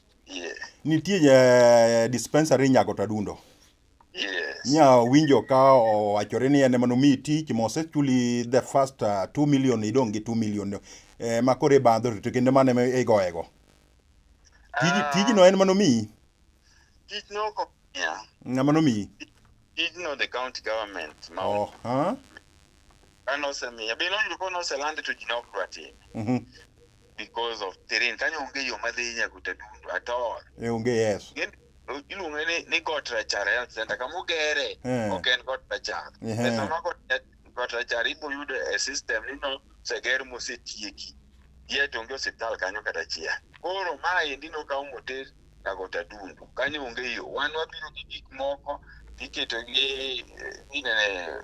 Yeah. Nitie eh, dispensary Nyago Tadundo. Yes. Nya winjo ka owachore ni en ema nomiyi tich mosechuli the first uh, 2 million idong' gi 2 million eh, ma koro ibandho to kendo mano ema igoyego. Tij, Ah. tijno en manomiyi? Tijno ok omiya. Ng'ama nomiyi? Tijno the county government ma Oh, ha? kane osemiya. Be noyudo ka noselande to ji ne ok dwa time. Mhm. because of terrain kanyo onge yo madhi nyaka Utatundu at all. E onge yes. Ng'e- Iluonge ni, ni Got Rachar Health Center kama ogere Eh. ok en Got Rachar. Ehe. Pesa ma Got Rachar- Got Rachar ibo yudo e system ni no oseger mosetieki. Yet onge osiptal kanyo kata achiel. Koro ma endi nokaw moter Kagot Adundu. Kanyo onge yo. Wan wabiro gi gik moko iketo gi inene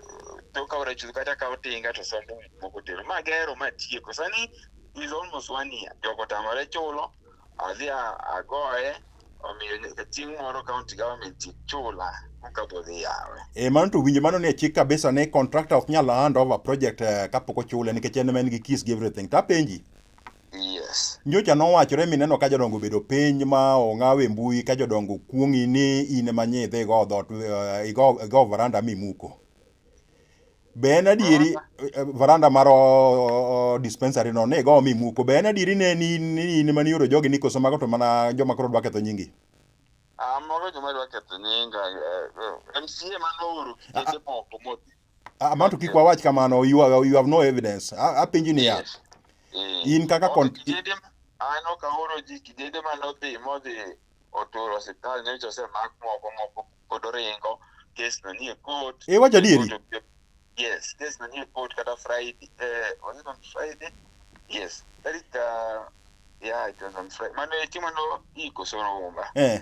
to ka ora chuth kata ka otinga to sombo gik moko tero. Ma gero ma tieko. Sani is almost one year. Jogo tamore chulo. Adhi agoye. Omiyo chieng' moro county government chula kabodhi yawe. E mano to winjo mano ni e chik kabisa ni contractor ok nyal hand over project eh, kapok ochule nikech en en gi kiss gi everything. Tapenji. Yes. Nyocha nowachore mineno ka jodongo obedo piny ma ong'awe mbui ka jodongo kuong'i ni in ema nyi idhi igo dhot eh, igo igo varanda mimuko. Be en adieri eh, eh, varanda mar oh, dispensary no ni igo mimuko. Be en adieri ne ni ni in ema nioro jogi ni koso mago to mana joma koro dwa ketho nyingi? Ah, mago joma dwa ketho nyinga. eh, eh, MCA mane ooro kikete moko modhi. Amanto kik wawach kamano, you have, you have no evidence. A- Apenji niya, Yes. Eh. in kaka kon... Onge kijede ma- aneno ka oro ji kijede mane odhi modhi oturo osiptal nyocha osemak moko moko pod oringo kes no nie court E wacho adieri. Court of- yes kes no nie court kata friday eh, was it on friday yes tarik ah, yeah it was on friday mano itimo no iko soro umba Eh.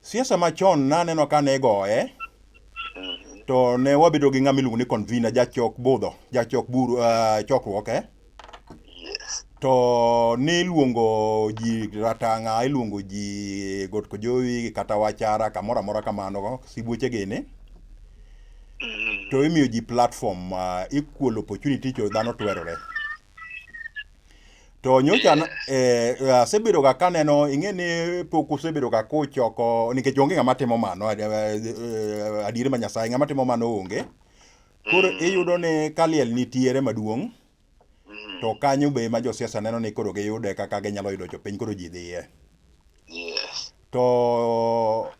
Siasa machon naneno ka ne igoye Mhm. to ne wabedo gi ng'ama iluongo ni convener jachok budho jachok buru uh, chokruok eh? Yes. to niluongo ji ratang'a iluongo ji got kojowi kata wachara kamoro amora kamano sibuoche gini Mhm. to imiyo ji platform uh, equal opportunity cho dhano twerore To nyocha na- eh, asebedo ga kaneno ing'e ni pok usebedo ga kuchoko nikech onge ng'ama timo mano eh, eh, adier ma Nyasaye ng'ama timo mano onge. Koro Mm. iyudo ni kaliel nitiere maduong' Mm. to kanyo be ma josiasa neno ni koro giyude kaka ginyalo yudo jopiny koro ji dhiye. Yes. To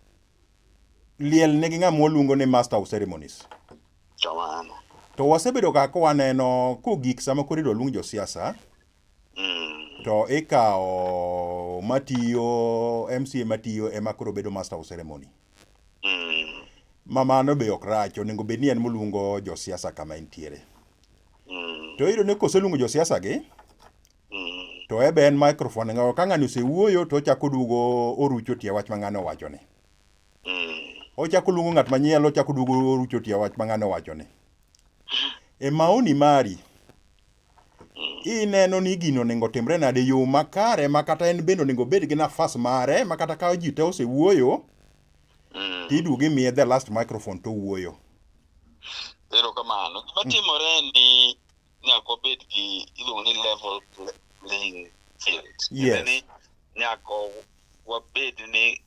liel nigi ng'ama waluongo ni master of ceremonies. Kamano. To wasebedo ga ka waneno kogik sama koro idwa luong josiasa Mm. to ikawo matiyo MCA matiyo ema koro bedo master of ceremony. Mm. Ma mano be ok rach, onego bed ni en moluongo josiasa kama entiere. Mm. To iyudo ni koseluongo josiasa gi Mm. To ebe en microphone ngawo ka ng'ani osewuoyo to ochako duogo orucho tie wach ma ng'ani owacho ni. Mm. Ochako luongo ng'at manyielo ochako duogo orucho tie wach ma ng'ani owacho ni. E maoni mari ineno ni gino onego timre nade yo makare ma kata en bende onego obed gi nafas mare ma kata ka ji te osewuoyo Mm. tiduogo imiye the last microphone to owuoyo. Erokamano. Gima timore en ni nyaka wabed gi iluongo ni level playing field yes. ni nyaka wabed ni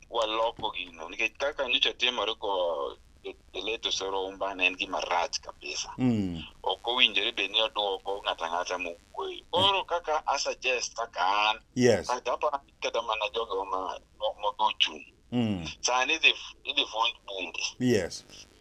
waloko gino nikech kaka nyocha timore ko eleto soro umbana en gima rach kabisa mm. ok owinjore bed ni odwoko ng'ato ang'ata mowuoyo koro kaka asuggest kaka an yes. kata mana jogo modochung' mm. sani idhi fund bunge yes.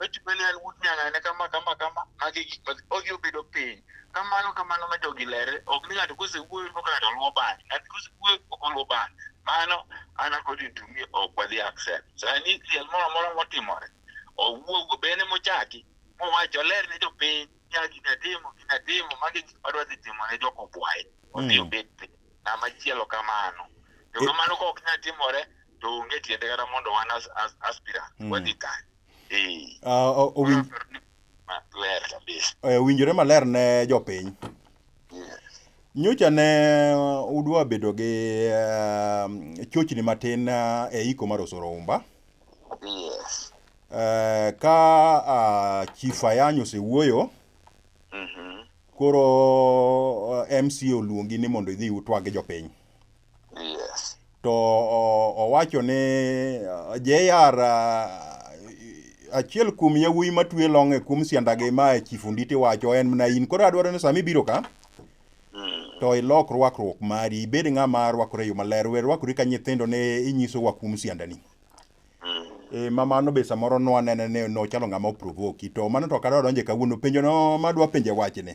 Weche bende en wut nyang'ane kama kama kama magi gik ma odhi obedo piny. Kamano kamano ma jogi lere ok ni ng'ato kosewuoyo to ng'ato luwo bang'e. Ng'ato kosewuoyo ok oluwo bang'e. Mano an according to me ok wadhi accept. Sani liel moro amora motimore owuogo bende mochaki mowach oler ne jopiny nya gina timo gina timo magi gik madwa dhi timo ne jok obwaye. Odhi Mm. obed piny. Ng'ama chielo kamano. To E- kamano ka ok nya timore to onge tiende kata mondo wan as, as, aspirant Mm. wadhi kanye. Ee, Ah, o- owin- wayudo ni maler kabisa. eh, owinjore maler ne jopiny. Yes. Nyocha ne udwa bedo gi eh, chochni matin eh, e iko mar Osoro Umba. Yes. Eh, ka ah, Chief Ayany osewuoyo, Mhm. koro eh, MC oluongi ni mondo idhi utwag jopiny. Yes. To o- owacho ni uh, JR uh, achiel kuom yawuoyi matwe long e kuom siandagi ma Chief Onditi wacho en mana in. Koro adwaro ni sama ibiro ka Mm. to ilok rwakruok mari ibed ng'ama rwakore e yo maler we rwakori ka nyithindo ne inyisowa kuom siandani. Mm. E, ma mano be samoro nwanene ni nochalo ng'ama oprovoki to mano to ok adwa donje kawuono penjono madwa penje wachni.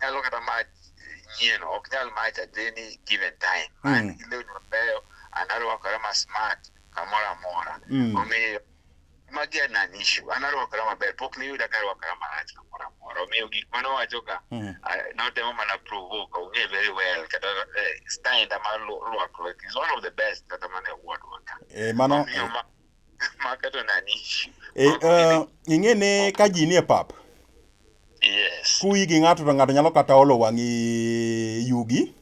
nyalo kata match nyien ok nyal match at any given time mm. an gi lewni mabeyo an arwakora ma smart kamoro amora mm. omiyo magi an an issue an arwakora maber pok niyuda ka arwakora marach kamoro amora omiyo gik mane owachoga mm. notemo mana provoke ong'e very well kata eh, style ma rwakruok is one of the best kata mana award waka eh, mano Maketo nani? E, eh, ing'e ni ka ji nie pap, Yes. kuyi gi ng'ato to ng'ato nyalo kata olo wang'i yugi.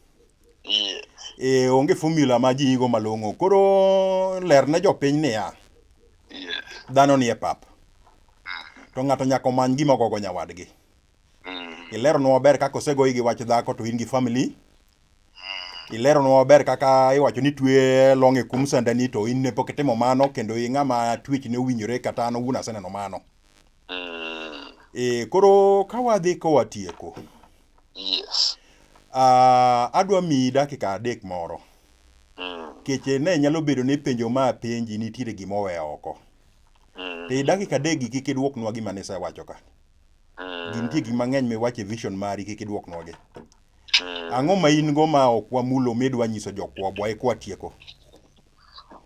Yes. E, onge formula ma ji yigo malong'o. Koro ler ne jopiny niya, Yes. dhano nie pap. To ng'ato nyaka omany gima ogogo nyawadgi. Mm. Ileronwa maber kaka osegoyi gi wach dhako to in gi family. ileronwa maber kaka iwacho ni twe long e kum sandani to in ne pok itimo mano kendo i ng'ama twech ne owinjore kata an owuon aseneno mano mm. e, koro ka wadhi kowa tieko yes. uh, adwa miyi dakika adek moro mm. keche ne nyalo bedo ni penjo ma penji nitiere gima owe oko mm. te dakika adek gi kik idwoknwa gima nisewacho ka mm. gintie gik mang'eny miwacho e vision mari kik idwoknwa gi Mm. Ang'o ma in go ma ok wamulo midwa nyiso jokwabwa e kwatieko?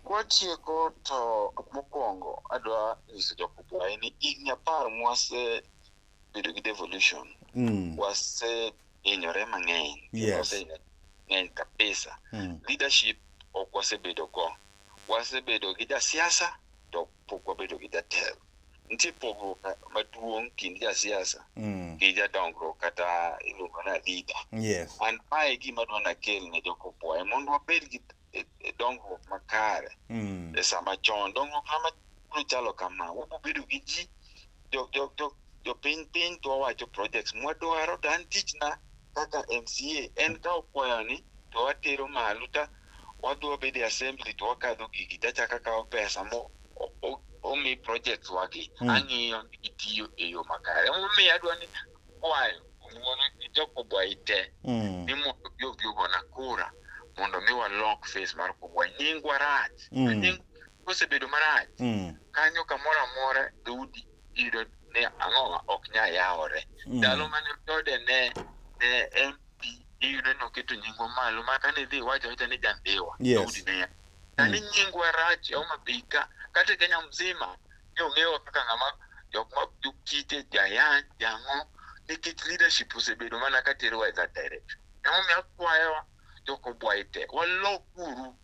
Kwatieko to mokwongo adwa nyiso jokwabwa ni higni apar mwasebedo gi devolution Mm. wasehinyore mang'eny kendo Yes. wasehinyore mang'eny kabisa Mm. leadership ok wasebedo go wasebedo gi jasiasa to ok pok wabedo gi jatelo. Nitie pogruok maduong' kind jasiasa Mm. gi jadongruok kata iluongo na leader. Yes. An mae gima dwa nakel ne jokopwoye mondo wabed gi e- e dongruok makare Mm. e sama chon. Dongruok sama biro chalo kama, wabiro bedo gi ji jo jo jo jo piny piny to wawacho projects mwadwaro to an tichna kaka MCA en kawo kwayoni to watero malo ta wadhi wabede assembly to wakadho gigi to achaka kawo pesa mo omi projects wagi mm. ang'iyo ni gitiyo e yo makare emomiyo adwa ni kwayo ng'wono gi jokobwai te mm. ni mondo bi obi ogona kura mondo mi walok face mar kubwai nyingwa rach mm. kosebedo marach Mm. kanyo kamoro amora dhoudi iyudo ni ang'owa ok nya yawore Mm. ndalo mane jode ne ne en pi iyudo ni oketo nyingwa malo ma kane idhi iwacho awacha ni jambiwa Yes. dhoudi ne ya sani nyingwa rach e Homa Bay ka kata e Kenya mzima ni ong'ewa kaka ng'ama jok ma jokite jayany jang'o nikech leadership osebedo mana ka terowa e that direction emomiyo akwayowa jokobwayi te walok uru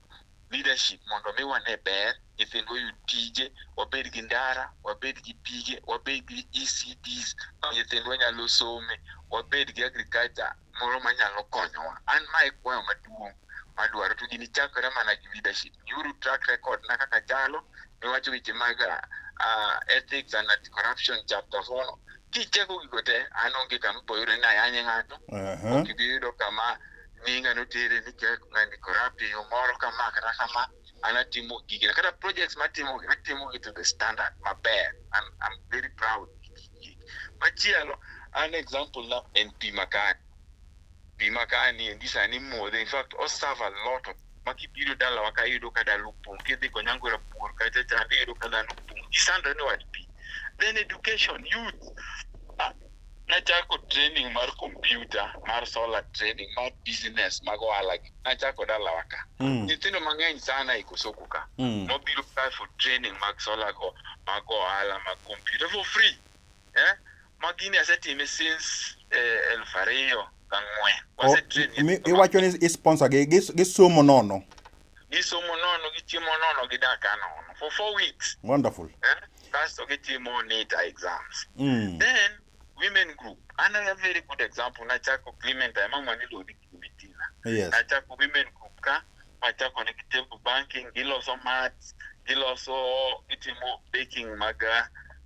leadership mondo mi wane ber, nyithindwa oyud tije, wabed gi ndara, wabed gi pige, wabed gi ECDs ma nyithindwa nyalo some, wabed gi agriculture moro manyalo konyowa. An ma e kwayo maduong' madwaro to gini chakore mana gi leadership. Nyuru track record na kaka chalo, niwacho weche mag uh, ethics and anti-corruption chapter four no. Kicheko gigo te, an onge kama iboyudo ni ayanye ng'ato, uh -huh. ok ibi yudo kama nyinga notere ni kek ngani corrupt e yo moro ka ma kata kama an atimo gigi kata projects matimo atimo gi to the standard maber I'm, I'm very proud machielo an example na en pi makani pi makani endi sani modhe in fact o serve a lot of ma kibiro dalawa ka iyudo ka dala opong kidhi konyangwera pur kacha chande iyudo ka dhano opong gisandore ni wach pi then education youth nachako training mar kompyuta mar solar training mar business mag ohala gi. nachako dalawa ka Mm. nyithindo mang'eny sana e kosoko ka Mm. nobiro ka for training mag solar go mag ohala mag kompyuta for free eh? ma gini asetime since eh, elfu ariyo gang'wen O- Wasetrain mi- nyithindo iwacho ni isponsor gi gis- gisomo nono gisomo nono gichiemo nono gidak anono for four weeks wonderful eh? kasto gitimo nita exams mm. then women group another very good example nachako clementine mama niluongo ni clementina yes nachako women group ka machako negi table banking giloso mats giloso gitimo baking mag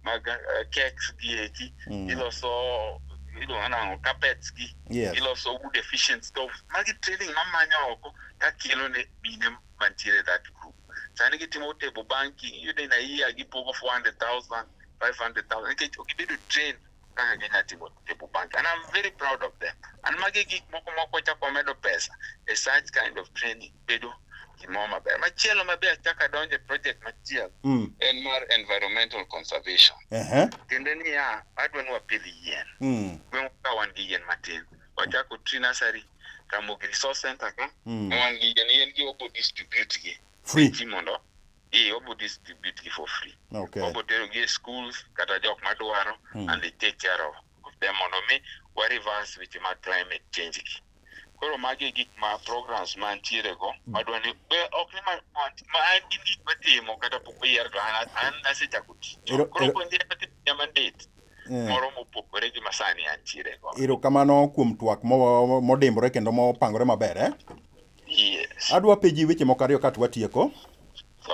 mag uh, cakes gi eki mm. giloso iluongo nang'o carpets gi Yes. giloso wood efficient stuff magi training mamanyo oko ka kelo ne mine mantiere e that group sani gitimo table banking iyudo in a year gipogo 400000 500000 nikech ok gibedo trained kaka ginya timo table banking and i'm very proud of them and magi gik moko moko wachako wamedo pesa e such kind of training bedo gimoro maber machielo mabe achako adonje project machielo Mm. en mar environmental conservation Ehe. tiende niya adwa ni wapidh yien Mm. gweng'wa ka wan gi yien matin wachako tree nursery Ramogi Resource Center ka mm. wan gi yani en gi obo distribute gi free ji mondo e obo distribute gi for free okay. obo tero gi e schools kata jok madwaro mm. and they take care of, of them mondo mi wa reverse weche mag climate change gi koro magi gik ma programs mantiere go mm. madwa ni ok ni ma an gin gik matimo kata pok oyier to an asechako tich koro puonjre nyamandit eh. moro mopogore gi masani antiere go. Erokamano kuom twak modimbore kendo mopangore maber eh? Yes. Adwa peji weche moko ariyo ka twatieko.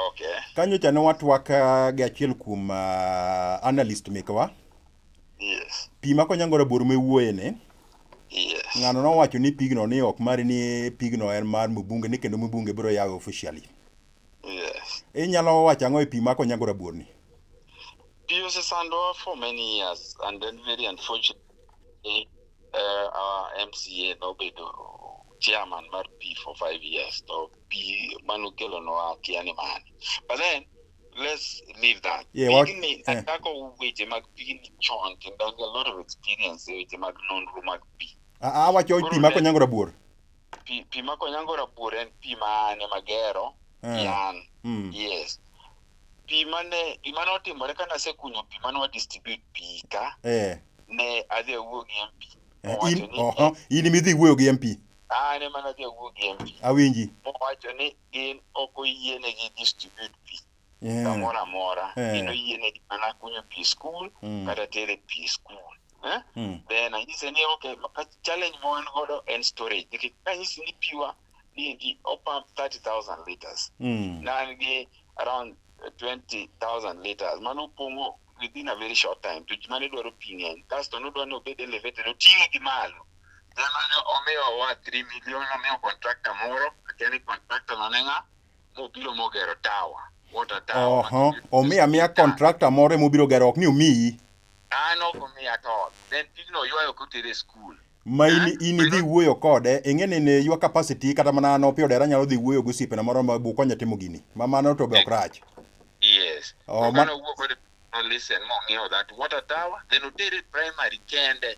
Okay. Kanyo cha ne watwak eh, gi achiel kuom uh, analyst mekwa. Yes. Pi ma konyangore bor me wuoye ne. Yes. Ng'ano nowacho ni pigno ni ok mari ni pigno en mar mbunge ni kendo mbunge biro yawe officially. Yes. Inyalo wacho ang'o e pi ma konyangore bor ni? Yes. Pi osesandowa for many years and then very unfortunately uh, our MCA nobedo chairman mar Pi for five years to Pi mano kelonwa kia ni mani but then let's leave that Yeah, what- pigni yeah. achako weche mag pigni chon kendo an gi a lot of experience e weche mag nonro mag pi A- awacho pi mako nyango rabuor pi pi ma konyango rabuor en pi ma an ema gero Eh. gi an Mm. yes pi mane gima notimore kane asekunyo pi mane wa distribute pi ka Eh. ne adhi awuo gi MP Eh, mowacho in ni oho, in midhi wuoyo gi MP. an ema nadhi awuo gi MP Awinji. mowacho ni gin ok oyienegi distribute pi Yeah. kamoro amora Eh. kendo yienegi mana kunyo pi e skul Mm. kata tere pi e skul Eh? Mm. then anyise ni okay ma- ka- challenge ma wan godo en storage nikech kanyisi ni piwa niendi opump 30000 liters Mm. na an gi around 20000 liters mano opong'o within a very short time to ji mane dwaro pi ng'eny kasto nodwa ni obed elevated oting'e gi malo then mane omiyowa 3 million omiyo contractor moro akia ni contractor no ne ng'a mobiro mogero tawa water tawa oho omi amiya contractor moro ema obiro gero ok ni omiyi an ok omiya at all then pigno oywayo kotere e skul ma in, Eh? in idhi wuoyo kode ing'e ni ne your capacity kata mana an opio dera nyalo dhi wuoyo gosiepena moro ma bukonya timo gini ma mano to be ok rach yes Oh, oh, ma- kane owuok kode no listen mong'iewo that water tower then otere primary kende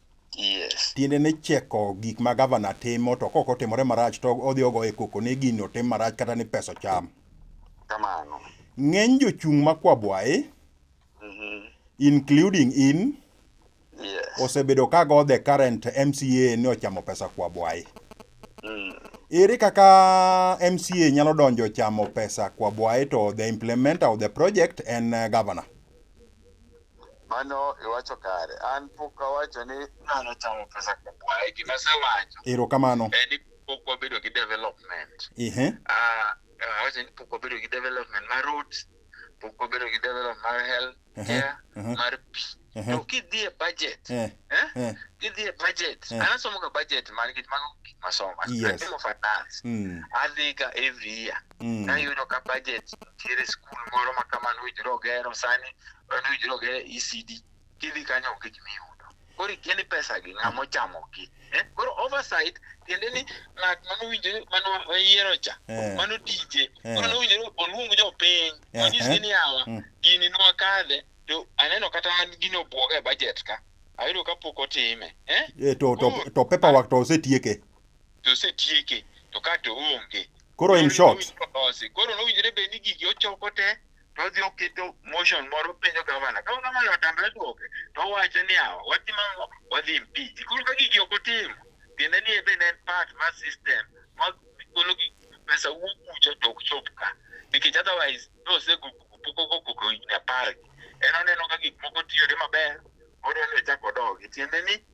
Yes. Tiende ni cheko gik ma gavana timo to kok otimore marach to odhi ogo e koko ni gini otim marach kata ni pesa cham. Kamano. Ng'eny jochung' ma Kwabwaye, Mhm. including in, Yes. osebedo ka go the current MCA ni ochamo pesa Kwabwaye. Mm. Ere kaka MCA nyalo donjo chamo pesa Kwabwaye to the implementer of the project en eh, governor. Mano iwacho kare. An pok awacho ni ng'ano chamo pesa kukwaye. Gima asewacho Erokamano. en ni pok wabedo gi development. Ehe. Ah, awacho ni pok wabedo gi development mar roads, pok wabedo gi development mar health Ehe, care, ehe. mar pi. Ehe. To kidhi e budget, Eh, eh? eh. Kidhi e budget, Eh. an asomoga budget man gi mago gik masomo. Yes. Atimo finance. Mm. Adhiga every year. Mm. Ka iyudo ka budget nitiere skul moro ma kamano owinjore ogero sani en owinjore ogero ECD kidhi kanyo onge gima iyudo. Koro ikia ni pesa gi ng'ama ochamo gi. Eh? Koro oversight tiende ni ng'at mane owinjore mane oyiero cha Eh. mano tije Eh. mano owinjore oluong jopiny Eh, onyisgi eh. ni awa Mm. gini nwakadhe to aneno kata an gini obwoga e budget ka ayudo ka pok otime eh? Eh, to, to, to paperwork to osetieke. to osetieke to ka to onge Koro in short. Koro nowinjore bed ni gigi ochoko te to odhi oketo motion moro penjo gavana. Ka gavana otamre duoke to owacho niya, watimo ang'o? Wadhi impeach. Koro ka gigi ok otim, tiende ni en bende en part mar system ma golo gi pesa wuok kucho to ok chop ka. Nikech otherwise nosego pok okoko higni apar gi. En oneno ka gik moko tiyone maber, odwa ni ochak odogi. Tiende ni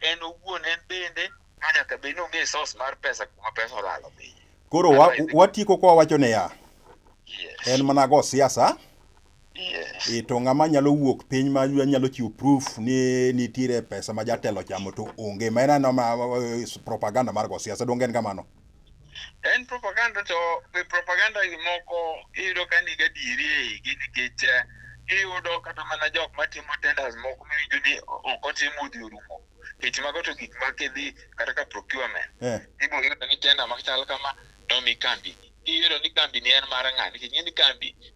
en owuon en bende nyaka bed ni ong'e source mar pesa kuma pesa olalo piny. Koro wa, Kata idhi- watieko kwa wacho niya, Yes. en mana go siasa Yes. e to ng'ama nyalo wuok piny ma nyalo chiwo proof ni nitiere pesa ma jatelo chamo to onge ma en aneno ma- ma- propaganda mar go siasa donge en kamano En propaganda to be propaganda gi moko iyudo ka nigi adieri e igi nikech eh, iyudo kata mana jok matimo tenders moko miwinjo ni ok otim udi orumo. Nikech mago to gik ma kidhi kata ka procurement. Eh. Ibiro yudo ni tender machal kama nomi kambi. Iyudo ni kambi ni en mar ng'a nikech ing'e ni kambi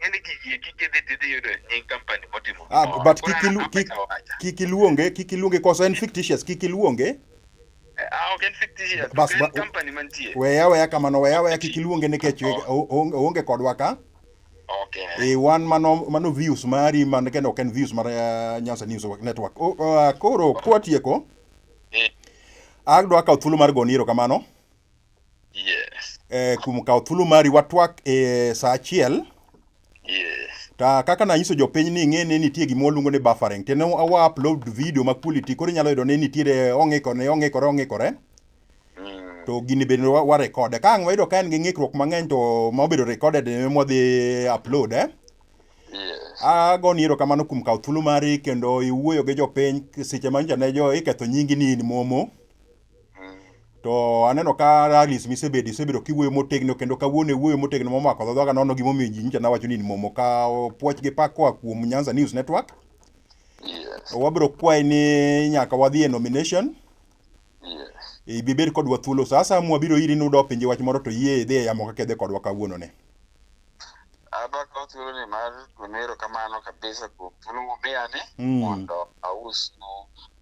ng'eni gigi eki kidhi tidhi yudo nying company motimo Ah, gimoro. but Koro kik ilu- namba kik- ka wacha. kik iluonge kik iluonge cause en fictitious kik iluonge Eh, ah, ok en fictitious, to Bas, en ba- company mantie. weya weya kamano weya weya kik iluonge nikech Oh. o- o- oonge kodwa ka Okay. e wan mano mano views mari man kendo ok en views mar eh, Nyanza News Network O- ah, koro kwatieko Eh, adwa kawo thuolo mar goni erokamano Yes. eh, kuom kawo thuolo mari watwak e saa achiel Yes. ta kaka nanyiso jopiny ni ing'e ni nitie gima waluongo ni buffering tene awa upload video ma quality koro inyalo yudo ni nitiere ong'ikore ong'ikore ong'ikore Mm. to gini bende wa- warekode ka ang' wayudo ka en gi ng'ikruok mang'eny to ma obedo recorded e mwadhi upload eh? Yes. agoni ero kamano kuom kawo thuolo mari kendo iwuoyo gi jopiny seche ma nyocha ne jo iketho nyingi ni in momo To aneno ka rallies misebedo isebedo kiwuoyo motegno kendo kawuono iwuoyo motegno momako dho dhaga nono gimomiyo ji nyicha nawacho ni in momo. Ka puoch gi pak koa kuom Nyanza News Network. Yes. Wabiro kwayi ni nyaka wadhi e nomination. Yes. Ibi bed kodwa thuolo sa asaya mwabiro iri nudo pinje wach moro to yie idhi e yamo kaka idhi kodwa kawuono ni. Abakawo thuoloni mar gone erokamano kabisa kuom thuolo mumiyani Mm. mondo ausnu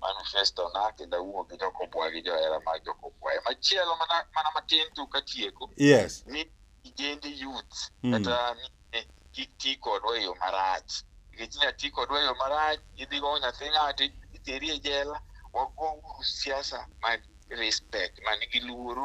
manifestona kendo awuo gi jokobwa gi johera mag jokobwa. E machielo mana mana matin tu katieko Yes. ni ijende youth Mm. kata mine kik ti kodwa e yo marach. Nikech inya ti kodwa e yo marach, idhigo nyathi ng'ato iteri e jela. Wago uru siasa mag respect, man gi luoro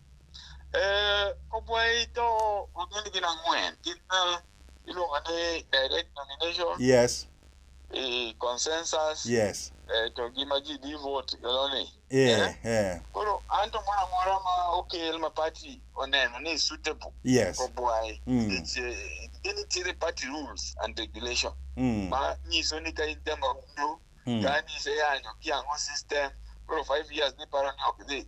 Eh, Kobwei to wagin gin ang'wen. Gin eh, iluongo ni direct nomination, yes eh, consensus, yes eh, to gi ma ji di vote gano ni. eh eh Koro an to moro amora ma okel ma party oneno ni suitable yes kobwai. Mm. It's, eh, Gin nitiere party rules and regulation mm ma nyiso ni ka in jama undo mm ka ni iseyanyo kiang'o system koro five years niparo ni ok dhi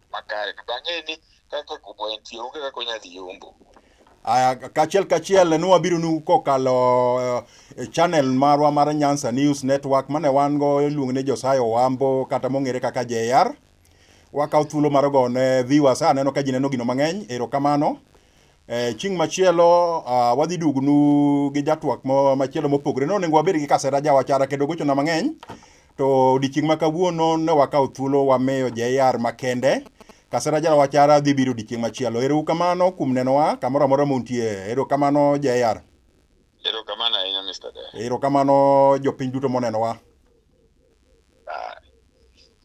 makare to ang'e ni kaka kubo entie onge kaka onya dhi yombo Aya, kachiel kachiel ne wabiro nu kokalo eh, channel marwa mar Nyanza News Network mane wan go iluongo ni Josiah Owambo kata mong'ere kaka JR. Wakaw thuolo mar gone viewers aneno ka ji neno gino mang'eny, erokamano. Eh, chieng' machielo ah, wadhi dugnu gi jatwak mo- machielo mopogore no onego wabed gi kasera jawachara kendo gochona mang'eny to odiechieng' ma kawuono ne wakawo thuolo wamiyo jr makende kasera jawachara dhi biro odiechieng' machielo erou kamano kuom nenowa kamoro amora muntie ero kamano jr Erokamano ahinya Mr. Dee. ero kamano jopiny duto monenowa